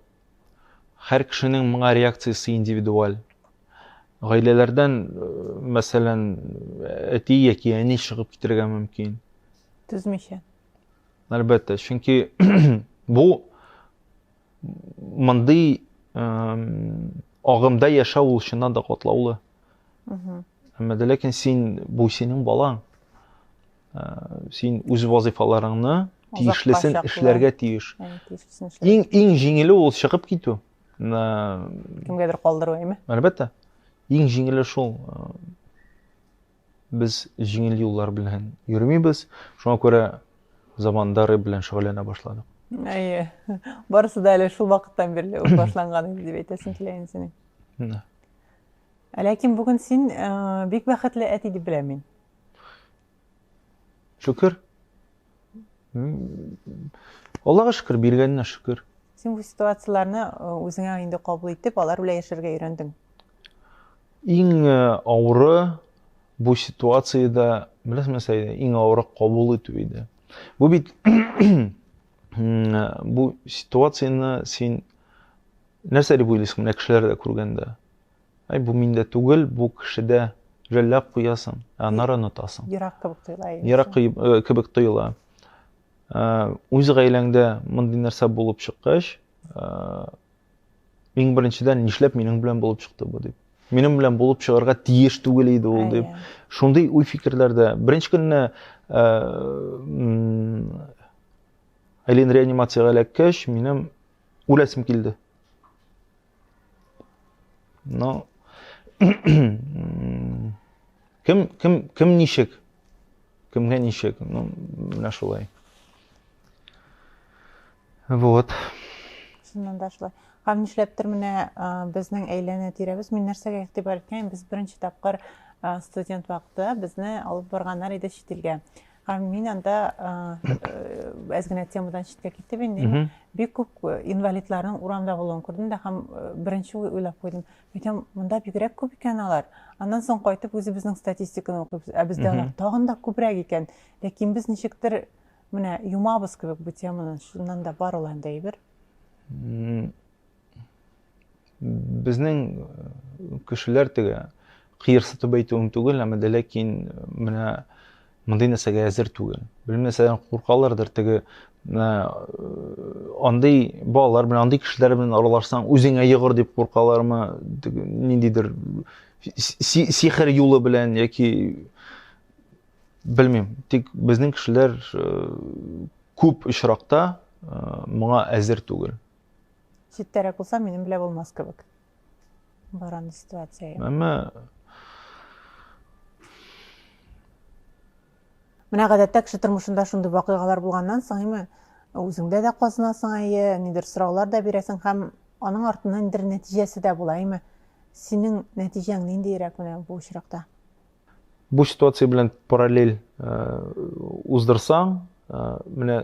Һәр кешенең моңа реакциясе индивидуаль. Гаиләләрдән, мәсәлән, әти яки әни чыгып китергә мөмкин. Түзмичә. Әлбәттә, чөнки бу Мондый агымда яшәү ул чыннан да катлаулы. Әмма дә ләкин син бу синең балаң. Син үз вазифаларыңны тиешлесен эшләргә тиеш. Иң иң җиңеле ул чыгып китү. Кемгәдер калдыру әйме? Әлбәттә. Иң җиңеле шул. Без җиңел юллар белән йөрмибез, шуңа күрә заманда рэп белән шөгыльләнә башладык. Әйе. Барысы да әле шул вакыттан бирле үк башланган инде дип әйтәсең килә инде синең. Да. Ә ләкин бүген син э, бик бәхетле әти дип беләм мин. Шөкер. Аллага шөкер, биргәненә шөкер. Син бу ситуацияләрне э, үзеңә инде кабул итеп, алар белән яшәргә өйрәндең. Иң э, авыры бу ситуациядә, беләсеңме, Сәйдә, иң авыры кабул итү иде. Бу бит бу ситуацияне син нәрсә дип уйлыйсың, менә кешеләр дә күргәндә? Әй, бу миндә түгел, бу кешедә, жәлләп куясың, ә аннары онытасың. Ерак кебек тоела. Ерак э, кебек тоела. Э, үз гаиләңдә мондый нәрсә булып чыккач, э, иң беренчедән нишләп минем белән булып чыкты бу дип. Минем белән булып чыгарга тиеш түгел иде ул дип. Шундый уй фикерләрдә. Беренче көнне Айлин реанимациягә эләккәч, минем үләсем килде. Ну, кем, кем, кем ничек? Кемгә ничек? Ну, менә шулай. Вот. Шуннан да шулай. Һәм нишләптер менә безнең әйләнә тирәбез, мин нәрсәгә игътибар иткән, без беренче тапкыр студент вакыты безне алып барганнар иде чит илгә. Мин анда әз генә темадан читкә китеп инде бик күп инвалидларның урамда булуын күрдем дә һәм беренче уйлап куйдым әйтәм монда бигрәк күп икән алар аннан соң кайтып үзебезнең статистиканы укыйбыз ә бездә алар тагын да күбрәк икән ләкин без ничектер менә юмабыз кебек бу теманы шуннан да бар ул анда әйбер Безнең э, кешеләр теге кыерсытып әйтүем түгел, әмма дә ләкин э, менә мондый нәрсәгә әзер түгел. Белмәсәң куркалардыр теге менә э, андый балалар белән, андый кешеләр белән аралашсаң, үзеңә йогыр дип куркалармы, ниндидер сихер юлы белән яки белмим. Тик безнең кешеләр э, күп очракта э, моңа әзер түгел. Читтәрәк булса, минем белә булмас кебек. Баран ситуация. Әмма Менә гадәттә кеше тормышында шундый вакыйгалар булганнан соң, әйме, үзеңдә дә казынасың, әйе, нидер сораулар да бирәсең һәм аның артыннан нидер нәтиҗәсе дә була, әйме. Синең нәтиҗәң ниндиерәк менә бу очракта? Бу ситуация белән параллель уздырсаң, менә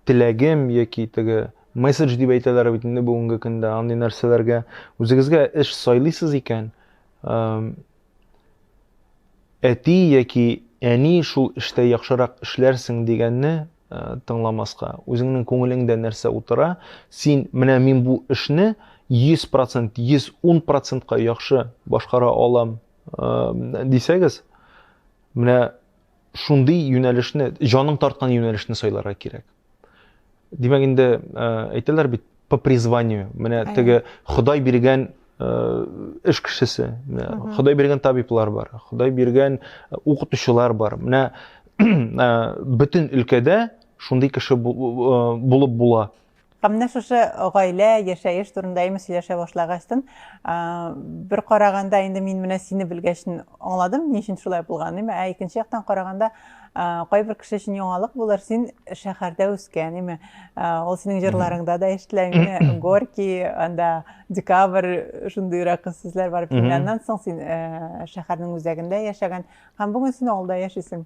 теләгем яки теге месседж дип әйтәләр бит инде бүгенге көндә андый нәрсәләргә үзегезгә эш сайлыйсыз икән, әти яки әни шул эштә яхшырак эшләрсең дигәнне тыңламаска, үзеңнең күңелеңдә нәрсә утыра, син менә мин бу эшне 100%, 110%ка яхшы башкара алам дисәгез, менә шундый юнәлешне, җаның тарткан юнәлешне сайларга кирәк. Димәк инде әйтәләр бит по призванию. Менә теге Ходай биргән эш кешесе, Ходай биргән табиблар бар, Ходай биргән укытучылар бар. Менә бөтен өлкәдә шундый кеше булып була. Менә шушы гаилә, яшәеш турында имеш сөйләшә башлагачтын, бер караганда инде мин менә сине белгәч аңладым, ни өчен шулай булганын. Ә икенче яктан караганда, кайбер кеше өчен яңалык булыр, син шәһәрдә үскән, име? Ул синең җырларыңда да ишетелә, менә Горький, анда Декабрь, шундыйрак сүзләр бар. Аннан соң син шәһәрнең үзәгендә яшәгән. Һәм бүген син авылда яшисең.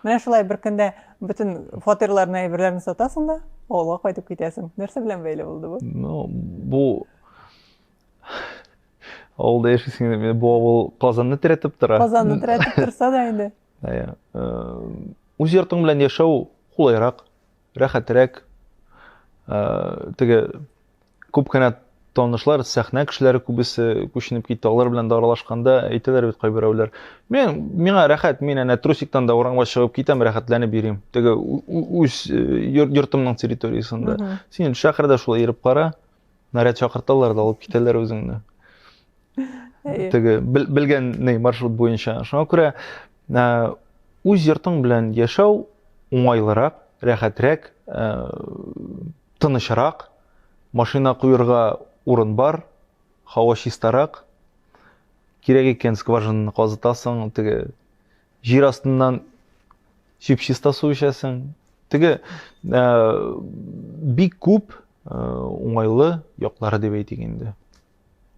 Менә шулай бер көндә бөтен фатирларны әйберләрен сатасың да, авылга кайтып китәсең. Нәрсә белән бәйле булды бу? Ну, бу авылда яшисең инде. Бу авыл Казанны терәтеп тора. Казанны терәтеп торса да инде. Әйе. Үз йортың белән яшәү кулайрак, рәхәтрәк. Теге Күп кенә танышлар, сәхнә кешеләре күбесе күченеп китте. Алар белән дә аралашканда әйтәләр бит кайберәүләр. Мен миңа рәхәт, мин әнә трусиктан да урамга чыгып китәм, рәхәтләнеп йөрим. Теге үз йортымның территориясендә. Син шәһәрдә шулай йөреп кара. Наряд чакырталар да алып китәләр үзеңне. Теге белгән ней маршрут буенча. Шуңа күрә үз йортың белән яшәү уңайлырак, рәхәтрәк. Тынычрак, машина куерга урын бар, һава чистарак. Кирәк икән, скважинаны казытасың, теге җир астыннан чип-чиста су эчәсең. Теге ә, бик күп ә, уңайлы яклары дип әйтик инде.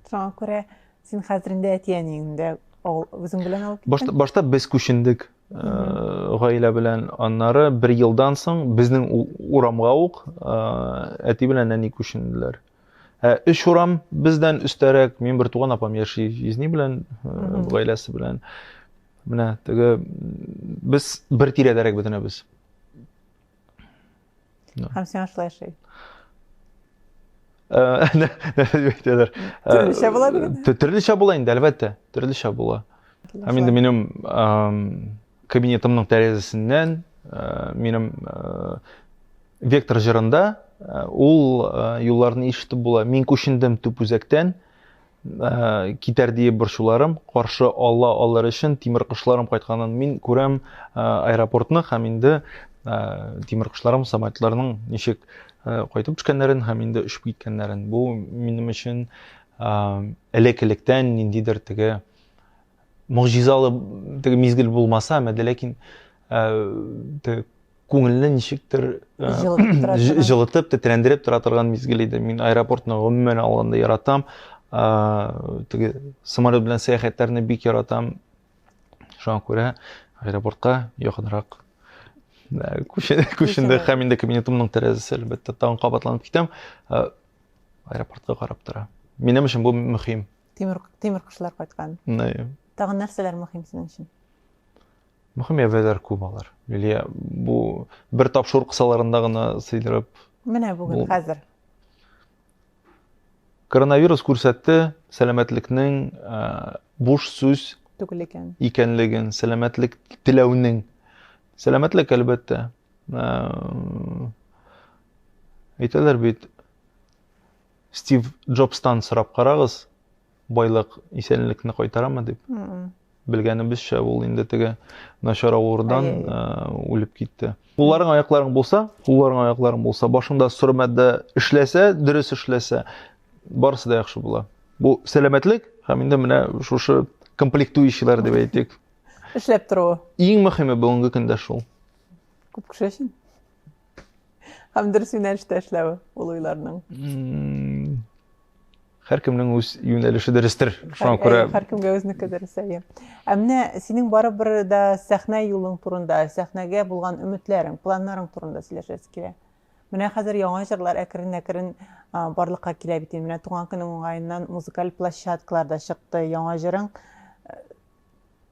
Шуңа күрә син хәзер инде әти-әниеңдә үзең белән алып киттең? Башта, башта без күчендек э, гаилә белән. Аннары бер елдан соң безнең урамга ук э, әти белән әни күченделәр. Ә өч урам бездән өстәрәк мин бер туган апам яши езни белән, э, гаиләсе белән. Менә теге без бер тирәдәрәк бөтенебез. Ja. Һәм сиңа шулай ошый. Әйтәләр. Төрлечә була бит. Төрлечә була инде, әлбәттә. Төрлечә була. Һәм инде минем кабинетымның тәрәзәсеннән минем вектор җырында ул юлларны ишетеп була. Мин күчендем төп үзәктән, Э, китәр диеп борчуларым каршы ала алыр өчен тимер кошларым кайтканын мин күрәм э, аэропортны һәм инде э, тимер кошларым самолетларның ничек кайтып төшкәннәрен һәм инде очып киткәннәрен бу минем өчен элек электән ниндидер теге могҗизалы теге мизгел булмаса әмәде ләкин ә, э, күңелне ничектер э, җылытып тетрәндереп тора торган мизгел иде мин аэропортны гомумән алганда яратам э, теге самолет белән сәяхәтләрне бик яратам шуңа күрә аэропортка якынрак күчендек һәм инде кабинетымның тәрәзәсе әлбәттә тагын кабатланып китәм аэропортка карап тора минем өчен бу мөһим тимер тимер кошлар кайткан тагын нәрсәләр мөһим синең өчен Мөһим әйберләр күп алар. Лилия, бу бер тапшыру кысаларында гына сыйдырып. Менә бүген хәзер. Коронавирус күрсәтте сәламәтлекнең э, буш сүз түгел икән. Икәнлеген, сәламәтлек теләүнең. Сәламәтлек әлбәттә. Э, әйтәләр бит Стив Джобстан сорап карагыз, байлык исәнлекне кайтарамы дип белгәнебезчә ул инде теге начар авырудан э, үлеп китте кулларың аякларың булса кулларың аякларың булса башыңда соры матдә эшләсә дөрес эшләсә барысы да яхшы була бу сәламәтлек һәм инде менә шушы комплектующийлар дип әйтик эшләп торуы иң мөһиме бүгенге көндә шул күп кеше өчен Һәм дөрес юнәлештә эшләве ул уйларның. Һәркемнең үз юнәлеше дөрестер. Шуңа күрә һәркемгә үзнеке дөрес әйе. Ә менә синең барыбер дә сәхнә юлың турында, сәхнәгә булган өметләрең, планнарың турында сөйләшәсе килә. Менә хәзер яңа җырлар әкрен-әкрен барлыкка килә бит. Менә туган көнең уңаеннан музыкаль площадкаларда чыкты. Яңа җырың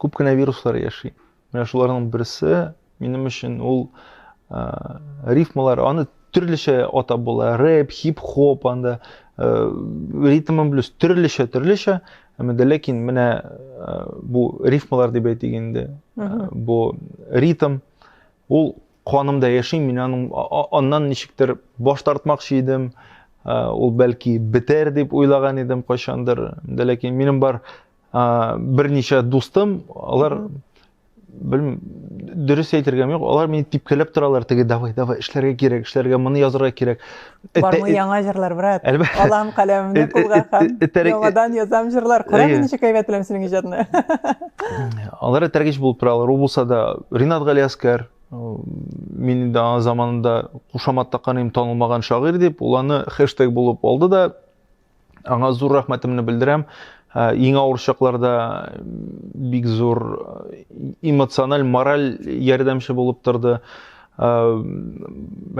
Күп кенә вируслар яши. Менә шуларның берсе минем өчен ул ә, рифмалар, аны төрлечә атап була. Рэп, хип-хоп, анда ә, ритмын блюз төрлечә, төрлечә. Әмма дә ләкин менә ә, бу рифмалар дип әйтик инде. Ә, бу ритм ул канымда яши, мин аның аннан ничектер баш тартмакчы идем. Ә, ул бәлки бетәр дип уйлаган идем кайчандыр. Дә ләкин минем бар берничә дустым алар белмим дөрес әйтергә юк алар мине типкәләп торалар теге давай давай эшләргә кирәк эшләргә моны язырга кирәк бармы яңа җырлар брат алам каләмемне кулга һәм яңадан язам җырлар карагыз ничек әйбәт беләм синең иҗатны алар этәргеч булып торалар ул булса да ринат галиәскәр мин инде аңа заманында кушамат таккан идем танылмаган шагыйрь дип ул аны хэштег булып алды да Аңа зур рәхмәтемне белдерәм. Ә, иң авыр чакларда бик зур э, эмоциональ, мораль ярдәмче булып торды. Ә,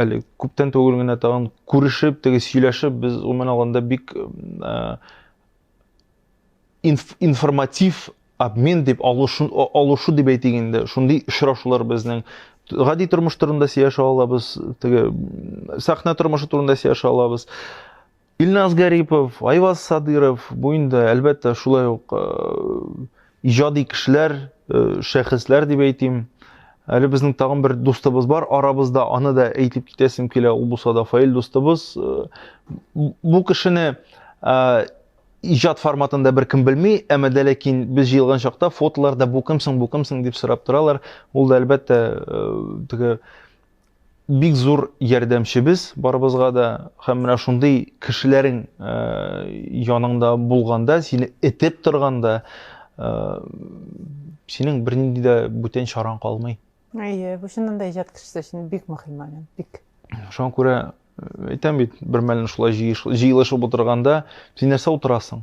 әле күптән түгел генә тагын күрешеп, теге сөйләшеп, без гомумән алганда бик ә, инф, информатив обмен дип алышу, алышу дип әйтик инде. Шундый очрашулар безнең гади тормыш турында сөйләшә алабыз, теге сәхнә тормышы турында сөйләшә алабыз. Илназ Гарипов, Айваз Садыров, бу инде, әлбәттә, шулай ук э, иҗади кешеләр, э, шәхесләр дип әйтим. Әле безнең тагын бер дустыбыз бар арабызда, аны да әйтеп китәсем килә, ул булса да Фаил дустыбыз. Э, бу кешене иҗат форматында бер кем белми, әмма дә ләкин без җыелган чакта фотоларда бу кемсең, бу кемсең дип сорап торалар. Ул да әлбәттә теге Бик зур ярдәмчебез барыбызга да һәм менә шундый кешеләрең яныңда булганда, сине этеп торганда, синең бернинди дә бүтән чараң калмый. Әйе, бу чыннан да иҗат кешесе өчен бик мөһим момент, бик. Шуңа күрә әйтәм бит, бермәлне шулай җыелышып утырганда, син нәрсә утырасың?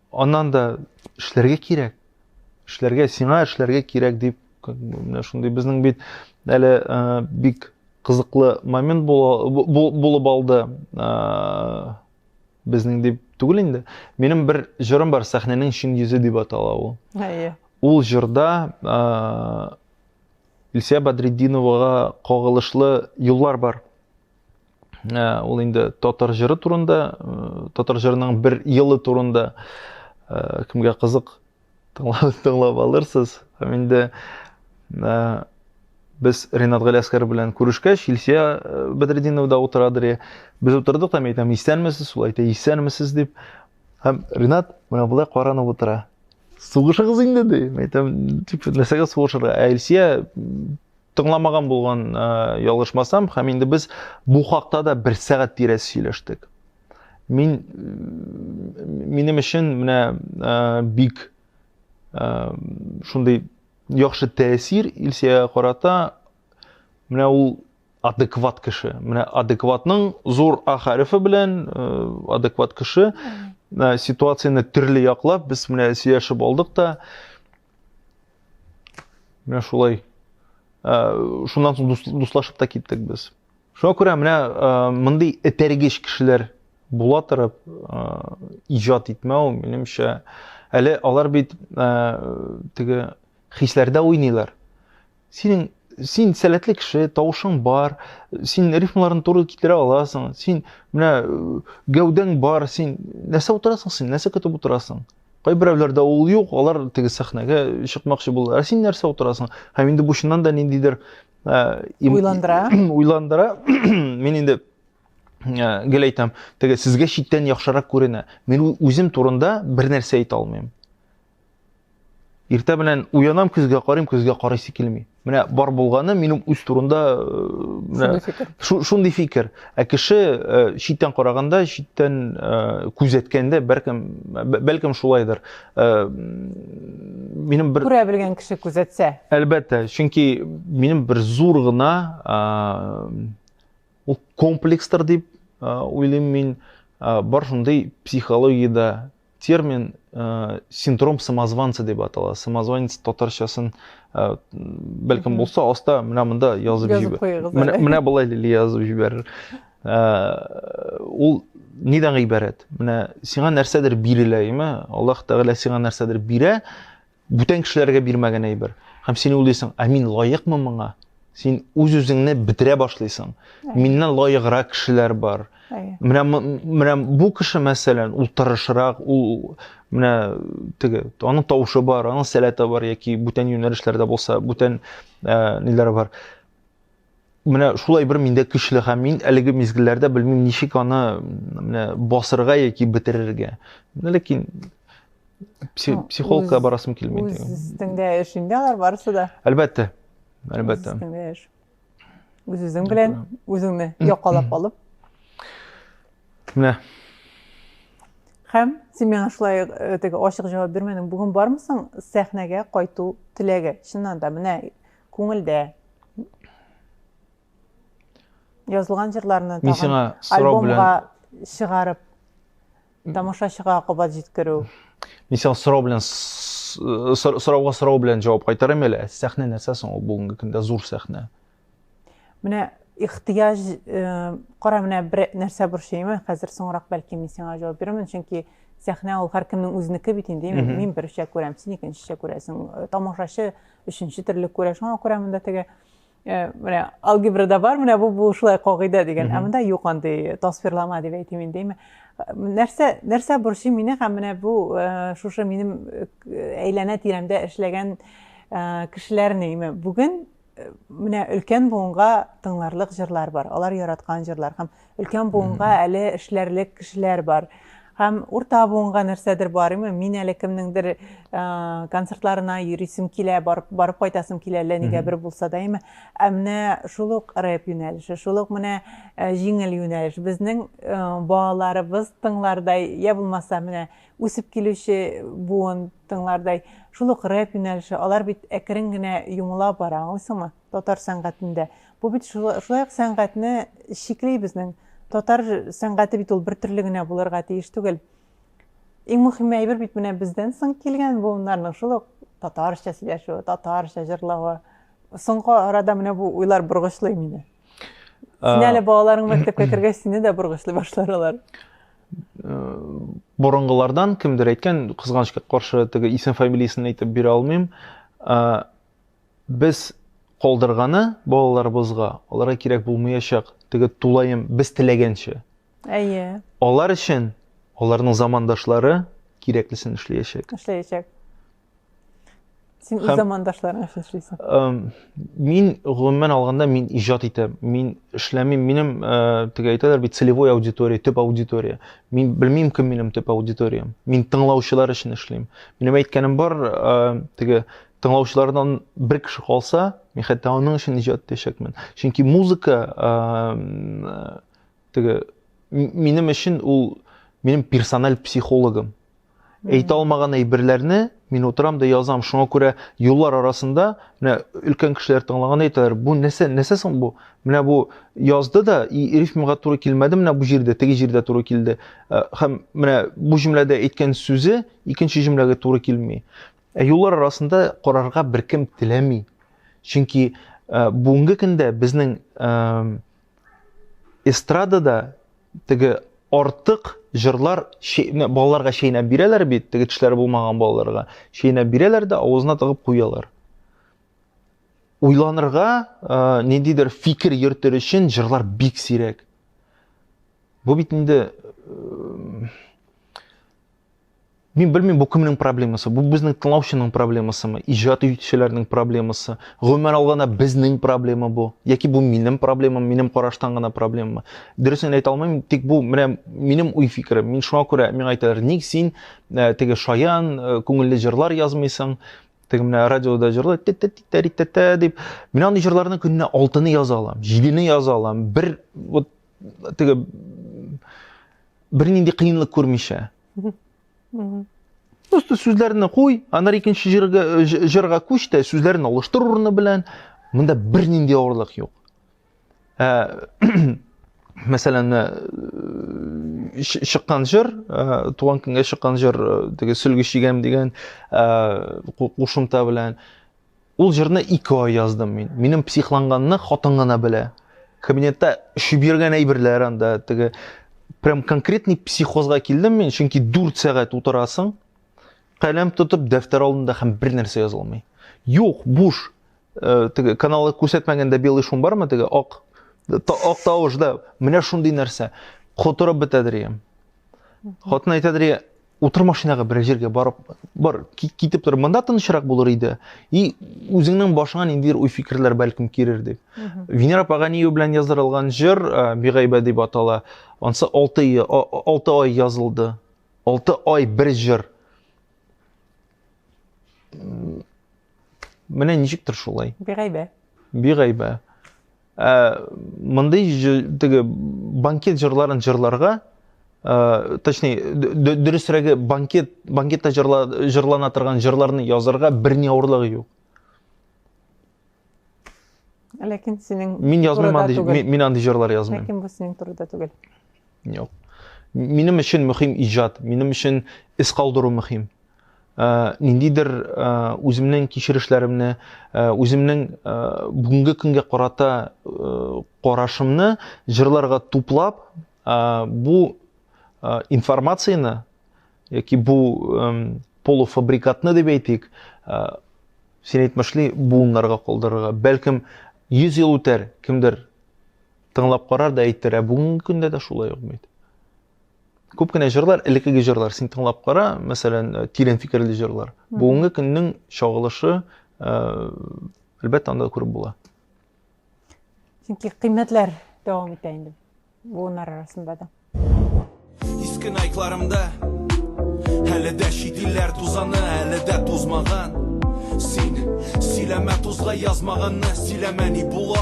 Аннан да эшләргә кирәк. Эшләргә, сиңа эшләргә кирәк дип, менә шундый безнең бит әле э, бик кызыклы момент булып алды. Э, безнең дип түгел инде. Минем бер җырым бар, сәхнәнең чын йөзе дип атала ул. Әйе. Ул җырда э, Илсия Бадретдиновага кагылышлы юллар бар. ул инде татар җыры турында, татар җырының бер елы турында кемгә кызык тыңлап алырсыз. Һәм инде без Ренат Галиаскар белән күрешкәч, Илсия Бәдретдинова да утырадыр. Без утырдык та, мин әйтәм, исәнмесез, ул әйтә, исәнмесез дип. Һәм Ренат менә болай каранып утыра. Сугышыгыз инде ди. Мин әйтәм, типа, нәрсәгә сугышырга? Ә Илсия Тыңламаган булган э, ялгышмасам, һәм инде без бу хакта да бер сәгать тирәсе сөйләштек. Мин минем өчен менә э, бик э, шундый яхшы тәэсир Илсиягә карата менә ул адекват кеше. Менә адекватның зур а хәрефе белән адекват кеше ситуацияне төрле яклап без менә сөйләшеп алдык та Менә шулай. Ә, шуннан соң дус, дуслашып та киттек без. Шуңа күрә менә ә, мондый этәргеч кешеләр була торып ә, иҗат итмәү, минемчә, әле алар бит ә, теге хисләрдә уйныйлар. Синең син сәләтле кеше, тавышың бар, син рифмаларны туры китерә аласың, син менә э, гәүдәң бар, син нәрсә утырасың син, нәрсә көтеп утырасың? Кайберәүләрдә ул юк, алар теге сәхнәгә чыкмакчы булалар. Ә син нәрсә утырасың? Һәм инде бу чыннан да ниндидер э, им- Уйландыра. уйландыра. Мин инде э, гел әйтәм, теге сезгә читтән яхшырак күренә. Мин ү- үзем турында бер нәрсә әйтә алмыйм. Иртә белән уянам, көзгә карыйм, көзгә карыйсы килми. Менә бар булганы минем үз турында э, шундый фикер. Ә кеше э, читтән караганда, читтән э, күзәткәндә бәлкем бәлкем шулайдыр. Минем бер күрә белгән кеше күзәтсә. Әлбәттә, чөнки минем бер зур гына ул комплекстер дип уйлыйм мин бар шундый психологиядә термин ә, синдром самозванца дип атала самозванец татарчасын ә, бәлкем булса аста менә монда язып җибәр менә, менә болай лили язып җибәрер ә, ул нидән гыйбарәт менә сиңа нәрсәдер бирелә яме аллаһ тәгалә сиңа нәрсәдер бирә Бүтән кешеләргә бирмәгән әйбер. Һәм син уйлыйсың, ә мин лаекмы моңа? Син үз-үзеңне бетерә башлыйсың. Миннән лаеграк кешеләр бар. Менә менә бу кеше мәсәлән, ул тырышрак, ул менә теге, аның тавышы бар, аның сәләте бар яки бүтән юнәлешләрдә булса, бүтән э, ниләре бар. Менә шулай бер миндә көчле һәм мин әлеге мизгелләрдә белмим ничек аны менә басырга яки бетерергә. Менә ләкин психологка барасым килми. Үзеңдә эш инде алар барысы да. Әлбәттә. Әлбәттә. Үзеңдә эш. Үзең белән үзеңне якалап алып. Менә. Һәм син миңа шулай э, теге ачык җавап бирмәдең. Бүген бармысың сәхнәгә кайту теләге? Чыннан да менә Күңелдә язылган җырларны Мин сиңа сорау белән альбомга чыгарып тамашачыга кабат җиткерү. Мин сиңа сорау белән сорауга сорау белән җавап кайтарам әле. Сәхнә нәрсә соң ул бүгенге көндә зур сәхнә? Менә ихтыяҗ э, кара менә бер нәрсә борчыймы хәзер соңрак бәлки мин сиңа җавап бирермен чөнки сәхнә ул һәркемнең үзенеке бит инде мин берчә күрәм син икенчечә күрәсең э, тамашачы Өченче терлек күрә, шуңа күрә монда теге менә алгебрада бар, менә бу бу шулай кагыйдә дигән, ә монда юк андый тасвирлама дип әйтим инде. Нәрсә нәрсә борчый мине һәм менә бу шушы минем әйләнә тирәмдә эшләгән кешеләрне име бүген менә өлкән буынга тыңларлык җырлар бар алар яраткан җырлар һәм Өлкән буынга әле эшләрлек кешеләр бар. Һәм урта буынга нәрсәдер бар, имме, мин әле кемнеңдер концертларына йөрисем килә, барып, барып кайтасым килә, әллә нигә бер булса да, имме. Ә менә шул ук рэп юнәлеше, шул ук менә җиңел юнәлеш, безнең балаларыбыз тыңлардай, я булмаса, менә үсеп килүче буын тыңлардай, шул ук рэп юнәлеше, алар бит әкрен генә йомыла бара, аңлыйсыңмы? Татар сәнгатендә. Бу бит шулай ук сәнгатьне чикли безнең. Татар сәнгате бит ул бер төрле генә булырга тиеш түгел. Иң мөһиме әйбер бит менә бездән соң килгән буыннарның шул ук татарча сөйләшүе, татарча җырлавы. Соңгы арада менә бу уйлар боргычлый мине. Син әле балаларың мәктәпкә кергәч, сине дә боргычлый башлар алар. Борынгылардан кемдер әйткән, кызганычка каршы, теге исем фамилиясен әйтеп бирә алмыйм. Без калдырганы балаларыбызга, аларга кирәк булмаячак, теге тулаем без теләгәнчә. Әйе. Алар өчен аларның замандашлары кирәклесен эшләячәк. Эшләячәк. Син үз замандашларың өчен эшлисең. Мин гомумән алганда мин иҗат итәм. Мин эшләмим. Минем теге әйтәләр бит целевой аудитория, төп аудитория. Мин белмим кем минем төп аудиториям. Мин тыңлаучылар өчен эшлим. Минем әйткәнем бар, теге тыңлаучылардан бер кеше калса, мин хәтта аның өчен иҗат итәчәкмен. Чөнки музыка теге минем өчен ул минем персональ психологым. Әйтә алмаган әйберләрне мин утырам да язам. Шуңа күрә юллар арасында менә өлкән кешеләр тыңлаганда әйтәләр, бу нәрсә, нәрсә соң бу? Менә бу язды да и рифмага туры килмәде, менә бу җирдә, теге җирдә туры килде. Һәм менә бу җөмләдә әйткән сүзе икенче җөмләгә туры килми. Ә юллар арасында карарга беркем теләми. Чөнки э, бүгенге көндә безнең э, эстрадада теге артык җырлар балаларга чәйнәп бирәләр бит, теге тешләре булмаган балаларга. Чәйнәп бирәләр дә авызына тыгып куялар. Уйланырга, э, ниндидер фикер йөртер өчен җырлар бик сирәк. Бу бит инде э, Мин белмим, бу кемнең проблемасы? Бу безнең тыңлаучының проблемасымы? Иҗат итүчеләрнең проблемасы? Гомумән алганда безнең проблема бу. Яки бу минем проблемам, минем караштан гына проблемамы? Дөресен әйтә алмыйм, тик бу менә минем уй фикерем. Мин шуңа күрә миңа әйтәләр, ник син э, теге шаян, э, күңелле җырлар язмыйсың? Теге менә радиода җырлы тә-тә-тә-тә-тә дип. Мин андый җырларны көненә алтыны яза алам, җидене яза алам. Бер вот теге бернинди кыенлык күрмичә просто сүзләрне куй аннары икенче җырга җырга күч тә сүзләрен алыштыр урыны белән монда бернинди авырлык юк ә, мәсәлән э, чыккан җыр э, туган көнгә чыккан җыр э, теге сөлге чигәм дигән кушымта белән Ул җырны ике ай яздым мин. Минем психланганны хатын гына белә. Кабинетта өшеп йөргән әйберләр анда, теге прям конкретный психозга килдем мин, чөнки 4 сәгать утырасың, каләм тотып дәфтәр алдында һәм бер нәрсә яза алмый. Юк, буш. Э, теге каналы күрсәтмәгәндә белый шум бармы теге ак та, ак тавыш да. Менә шундый нәрсә. Котырып бетәдер ием. Хатын әйтәдер, Утыр машинага берәр җиргә барып бар китеп тор. Монда тынычрак булыр иде. И үзеңнең башыңа ниндидер уй-фикерләр бәлкем кирер дип. Венера Паганиева белән яздырылган җыр э, Бигайбә дип атала. Ансы 6 ай 6 ай язылды. 6 ай бер җыр. Менә ничектер шулай. Бигайбә. Бигайбә. Ә мондый теге банкет җырларын җырларга, ә, точнее, дөресрәге банкет банкетта җырла, җырлана торган җырларны язарга берни авырлыгы юк. Ләкин синең Мин язмыйм андый, мин, мин андый җырлар язмыйм. Ләкин бу синең турыда түгел. Юк. Минем өчен мөһим иҗат, минем өчен эз калдыру мөһим. ниндидер үземнең кичерешләремне, үземнең бүгенге көнгә карата карашымны җырларга туплап, бу информацияне яки бу полуфабрикатны дип әйтик, син әйтмешли буыннарга калдырырга. Бәлкем 100 ел үтәр, кемдер тыңлап карар да әйтер, ә бүгенге көндә дә шулай ук бит. күп кенә җырлар элеккеге җырлар син тыңлап кара мәсәлән э, тирән фикерле җырлар бүгенге көннең чагылышы э, әлбәттә анда күреп була чөнки кыйммәтләр дәвам итә инде буыннар арасында да иске найкларымда әле дә чит илләр тузаны әле дә тузмаган син сөйләмә тузга язмаганны сөйләмә ни була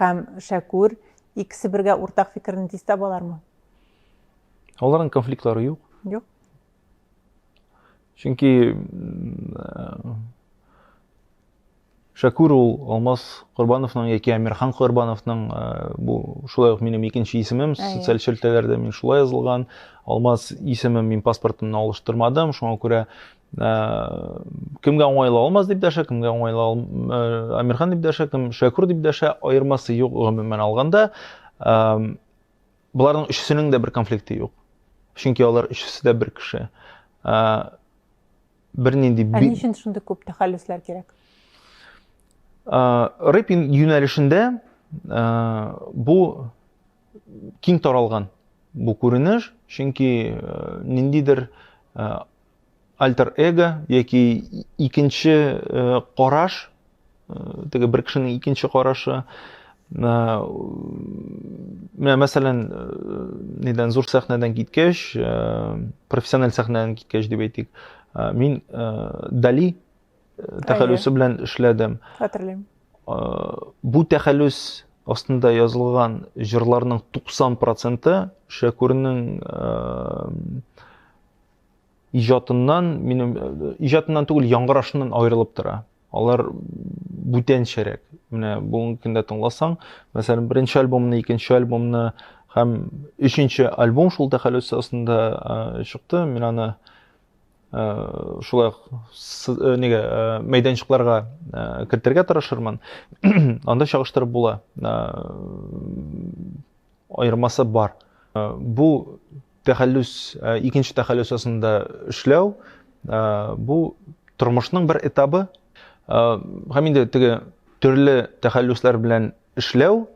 Һәм Шәкүр, икесе бергә уртак фикерне тиз табалармы? Аларның конфликтлары юк. Юк. Чөнки Шәкүр ул Алмаз Корбановның яки Әмирхан Корбановның э, бу шулай ук минем икенче исемем социаль челтәләрдә мин шулай язылган. Алмаз исемем мин паспортымны алыштырмадым, шуңа күрә Ә, кемгә уңайлы алмаз дип дәшә, кемгә уңайлы ал... Э, Амирхан дип дәшә, кем Шәкүр дип дәшә, аермасы юк гомумән алганда. Ә, боларның өчесенең дә бер конфликты юк. Чөнки алар өчесе дә бер кеше. Ә, бернинди Ә ни өчен шундый күп тәхәллүсләр кирәк? Рэп юнәлешендә бу киң таралган бу күренеш, чөнки ниндидер альтер-эго яки икенче э, караш, э, теге бер кешенең икенче карашы, э, менә мәсәлән, нидән зур сәхнәдән киткәч, профессиональ сәхнәдән киткәч дип әйтик, мин Дали тәхәллүсе белән эшләдем. Хәтерлим. Бу тәхәллүс астында язылган җырларның 90 проценты Шәкүрнең иҗатыннан, минем иҗатыннан түгел, яңгырашыннан аерылып тора. Алар бүтәнчәрәк. Менә бүгенге көндә тыңласаң, мәсәлән, беренче альбомны, икенче альбомны һәм өченче альбом шул тәхәллүс астында чыкты. Мин аны шулай нигә мәйданчыкларга кертергә тырышырмын. Анда чагыштырып була. аермасы бар. Бу тәхәллүс, икенче тәхәллүс астында эшләү, бу тормышның бер этабы. Һәм инде теге төрле тәхәллүсләр белән эшләү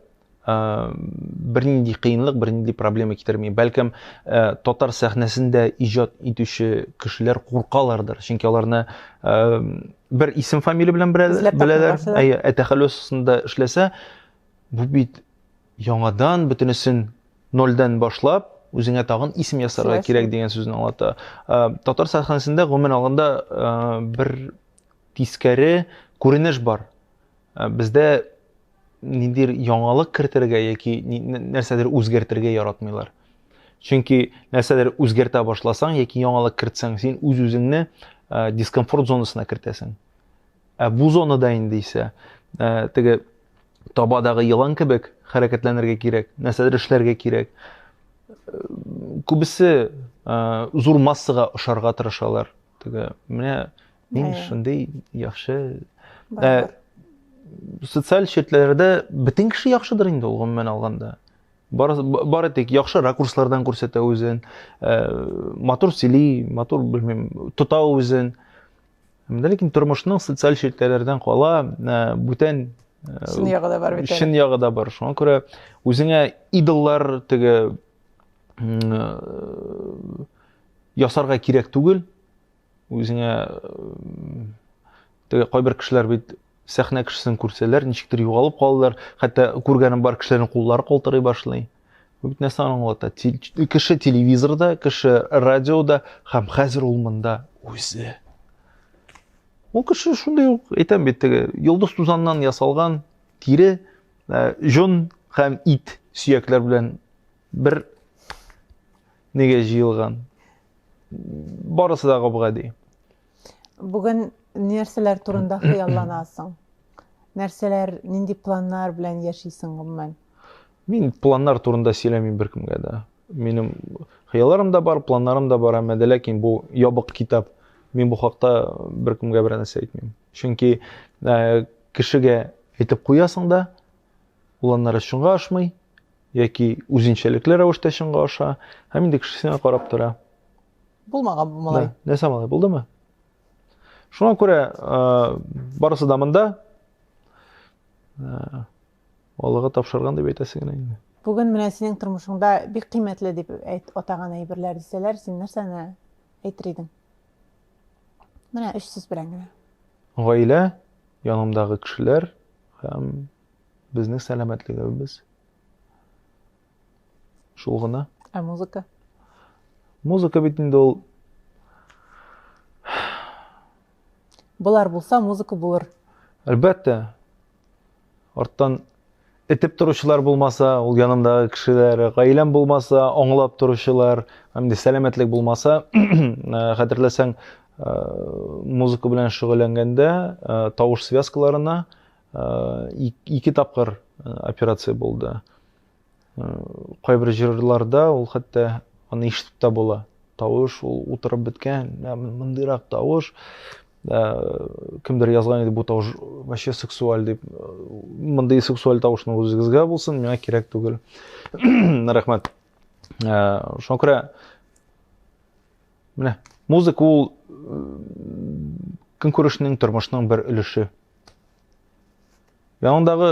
бернинди кыенлык, бернинди проблема китерми. Бәлкем, татар сәхнәсендә иҗат итүче кешеләр куркалардыр, чөнки аларны бер исем фамилия белән беләләр. Әйе, ә тәхәллүс астында эшләсә, бу бит Яңадан бөтенесен нольдән башлап, үзеңә тагын исем ясарга кирәк дигән сүзне аңлата. Татар сәхнәсендә гомумән алганда бер тискәре күренеш бар. Бездә ниндидер яңалык кертергә яки нәрсәдер үзгәртергә яратмыйлар. Чөнки нәрсәдер үзгәртә башласаң яки яңалык кертсәң, син үз-үзеңне дискомфорт зонасына кертәсең. Ә бу зонада инде исә теге табадагы елан кебек хәрәкәтләнергә кирәк, нәрсәдер эшләргә кирәк. Күбесе зур массага ошарга тырышалар. Теге менә мин шундый яхшы э, социаль шартларда бөтен кеше яхшыдыр инде ул гомумән алганда. Бары, бары тик яхшы ракурслардан күрсәтә үзен, э, матур сөйли, матур белмим, тота үзен. Менә ләкин тормышның социаль челтәрләрдән кала э, бүтән э, чын ягы да бар бит. Чын ягы да бар. Шуңа күрә үзеңә идоллар теге э, ясарга кирәк түгел. Үзеңә теге кайбер кешеләр бит сәхнә кешесен күрсәләр, ничектер югалып калалар. Хәтта күргәнем бар кешеләрнең куллары калтырый башлый. Бу бит нәрсәне аңлата? Кеше телевизорда, кеше радиода һәм хәзер ул монда үзе. Ул кеше шундый ук, әйтәм бит теге, йолдыз тузаннан ясалган тире, э, җон һәм ит сөякләр белән бер неге җыелган. Барысы да гап-гади. Бүген нәрсәләр турында хыялланасың? Нәрсәләр, нинди планнар белән яшисең гомумән? Мин планнар турында сөйләмим беркемгә дә. Минем хыялларым да бар, планнарым да бар, әмма дә ләкин бу ябык китап. Мин бу хакта беркемгә берәр нәрсә әйтмим. Чөнки э, кешегә әйтеп куясың да, ул аннары чынга ашмый, яки үзенчәлекле рәвештә чынга аша, һәм инде кеше сиңа карап тора. Булмаган бу малай. Нәрсә малай, булдымы? Шуңа күрә барысы да монда. Аллага тапшырган дип әйтәсе генә инде. Бүген менә синең тормышыңда бик кыйммәтле дип әйт атаган әйберләр дисәләр, син нәрсәне әйтер идең? Менә өч сүз белән генә. Гаилә, янымдагы кешеләр һәм безнең сәламәтлегебез. Шул гына. Ә музыка? Музыка бит инде ул Болар булса, музыка булыр. Әлбәттә. Арттан этеп торучылар булмаса, ул янымдагы кешеләр, гаиләм булмаса, аңлап торучылар, инде сәламәтлек булмаса, э, хәтерләсәң, э, музыка белән шөгыльләнгәндә э, тавыш связкаларына ике тапкыр операция булды кайбер җырларда ул хәтта аны ишетеп тә була тавыш ул утырып беткән мондыйрак тавыш кемдер язган иде бу тавыш вообще сексуаль дип мондый сексуаль тавышны үзегезгә булсын миңа кирәк түгел рәхмәт шуңа күрә Менә музыка ул көнкүрешнең, тормышның бер өлеше. Яныңдагы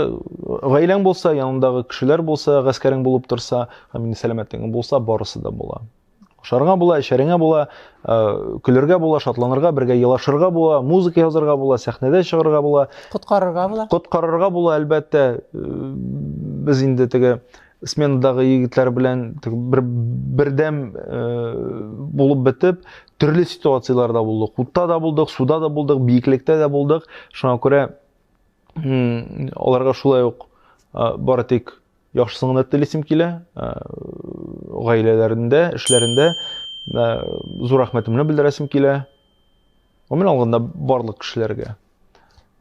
гаиләң булса, яныңдагы кешеләр булса, гаскәрең булып торса, һәм инде сәламәтлегең булса, барысы да була. Ашарыңа була, эчәреңә була, э, көлергә була, шатланырга, бергә елашырга була, музыка язарга була, сәхнәдә чыгарга була. Коткарырга була. Коткарырга була, әлбәттә. Э, без инде теге сменадагы егетләр белән бер, бердәм э, булып бетеп, төрле ситуацияләрдә булдык. Утта да булдык, суда да булдык, биеклектә дә булдык. Шуңа күрә аларга шулай ук э, бары тик яхшысын гына телисем килә. Э, гаиләләрендә, эшләрендә э, зур рәхмәтемне белдерәсем килә. гомумән алганда барлык кешеләргә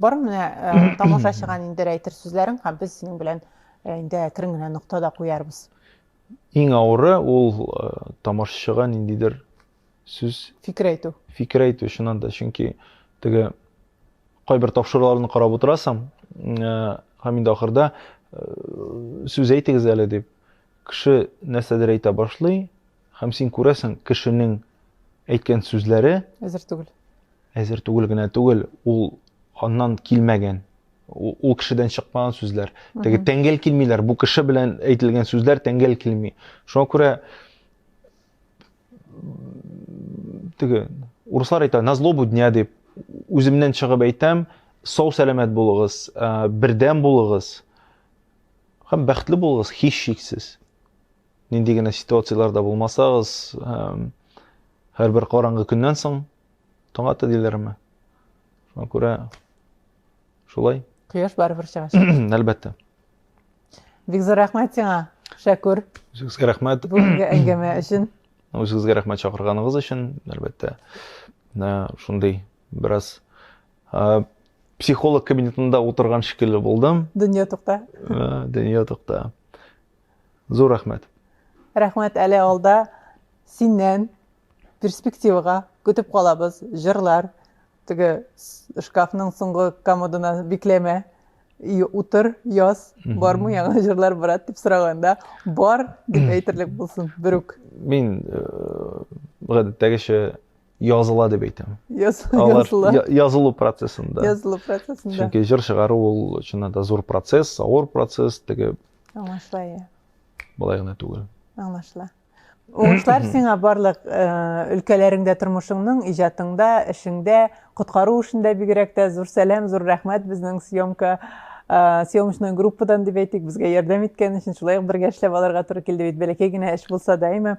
бар менә э, тамашачыга нидер әйтер сүзләрең һәм без синең белән э, инде әкрен генә нокта да куярбыз иң авыры ул э, тамашачыга ниндидер сүз фикер әйтү фикер әйтү чыннан да чөнки теге кайбер тапшыруларны карап утырасың һәм инде ахырда сүз әйтегез әле дип кеше нәрсәдер әйтә башлый һәм син күрәсең кешенең Әйткән сүзләре әзер түгел. Әзер түгел генә түгел, ул аннан килмәгән. Ул кешедән чыкмаган сүзләр. Теге тәңгәл килмиләр. Бу кеше белән әйтелгән сүзләр тәңгәл килми. Шуңа күрә теге урыслар әйтә, на злобу дня дип үземнән чыгып әйтәм, сау сәламәт булыгыз, бердәм булыгыз һәм бәхетле булыгыз һичшиксез. Нинди генә ситуацияләрдә булмасагыз, һәрбер караңгы көннән соң таң ата диләрме? Шуңа күрә шулай. Кояш барыбер чыгачак. Әлбәттә. Бик зур рәхмәт сиңа, Шәкүр. Үзегезгә рәхмәт. Бүгенге әңгәмә өчен. Үзегезгә рәхмәт чакырганыгыз өчен, әлбәттә. Шундый бераз психолог кабинетында утырган шикелле булдым. Дөнья тукта. Дөнья тукта. Зур рәхмәт. Рәхмәт әле алда синнән перспективага көтеп калабыз җырлар теге шкафның соңгы комодына бикләмә утыр яз бармы яңа җырлар брат дип сораганда бар дип әйтерлек булсын берүк мин э, гадәттәгечә языла дип әйтәм язылу процессында язылу процессында чөнки җыр чыгару ул чыннан да зур процесс авыр процесс теге аңлашыла иә былай гына түгел аңлашыла уңышлар сиңа барлык өлкәләреңдә тормышыңның иҗатыңда эшеңдә коткару эшендә бигрәк тә зур сәлам зур рәхмәт безнең съемка съемочный группадан дип әйтик безгә ярдәм иткән өчен шулай ук бергә эшләп алырга туры килде бит бәләкәй генә эш булса да әйме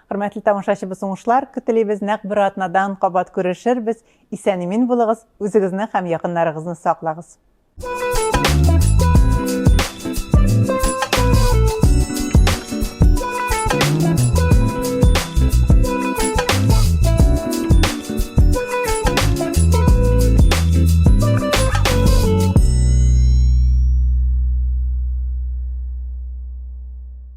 Хөрмәтле тамашачыбыз уңышлар көтелибез, нәкъ бер атнадан кабат күрешербез. Исән-имин булыгыз, үзегезне һәм якыннарыгызны саклагыз.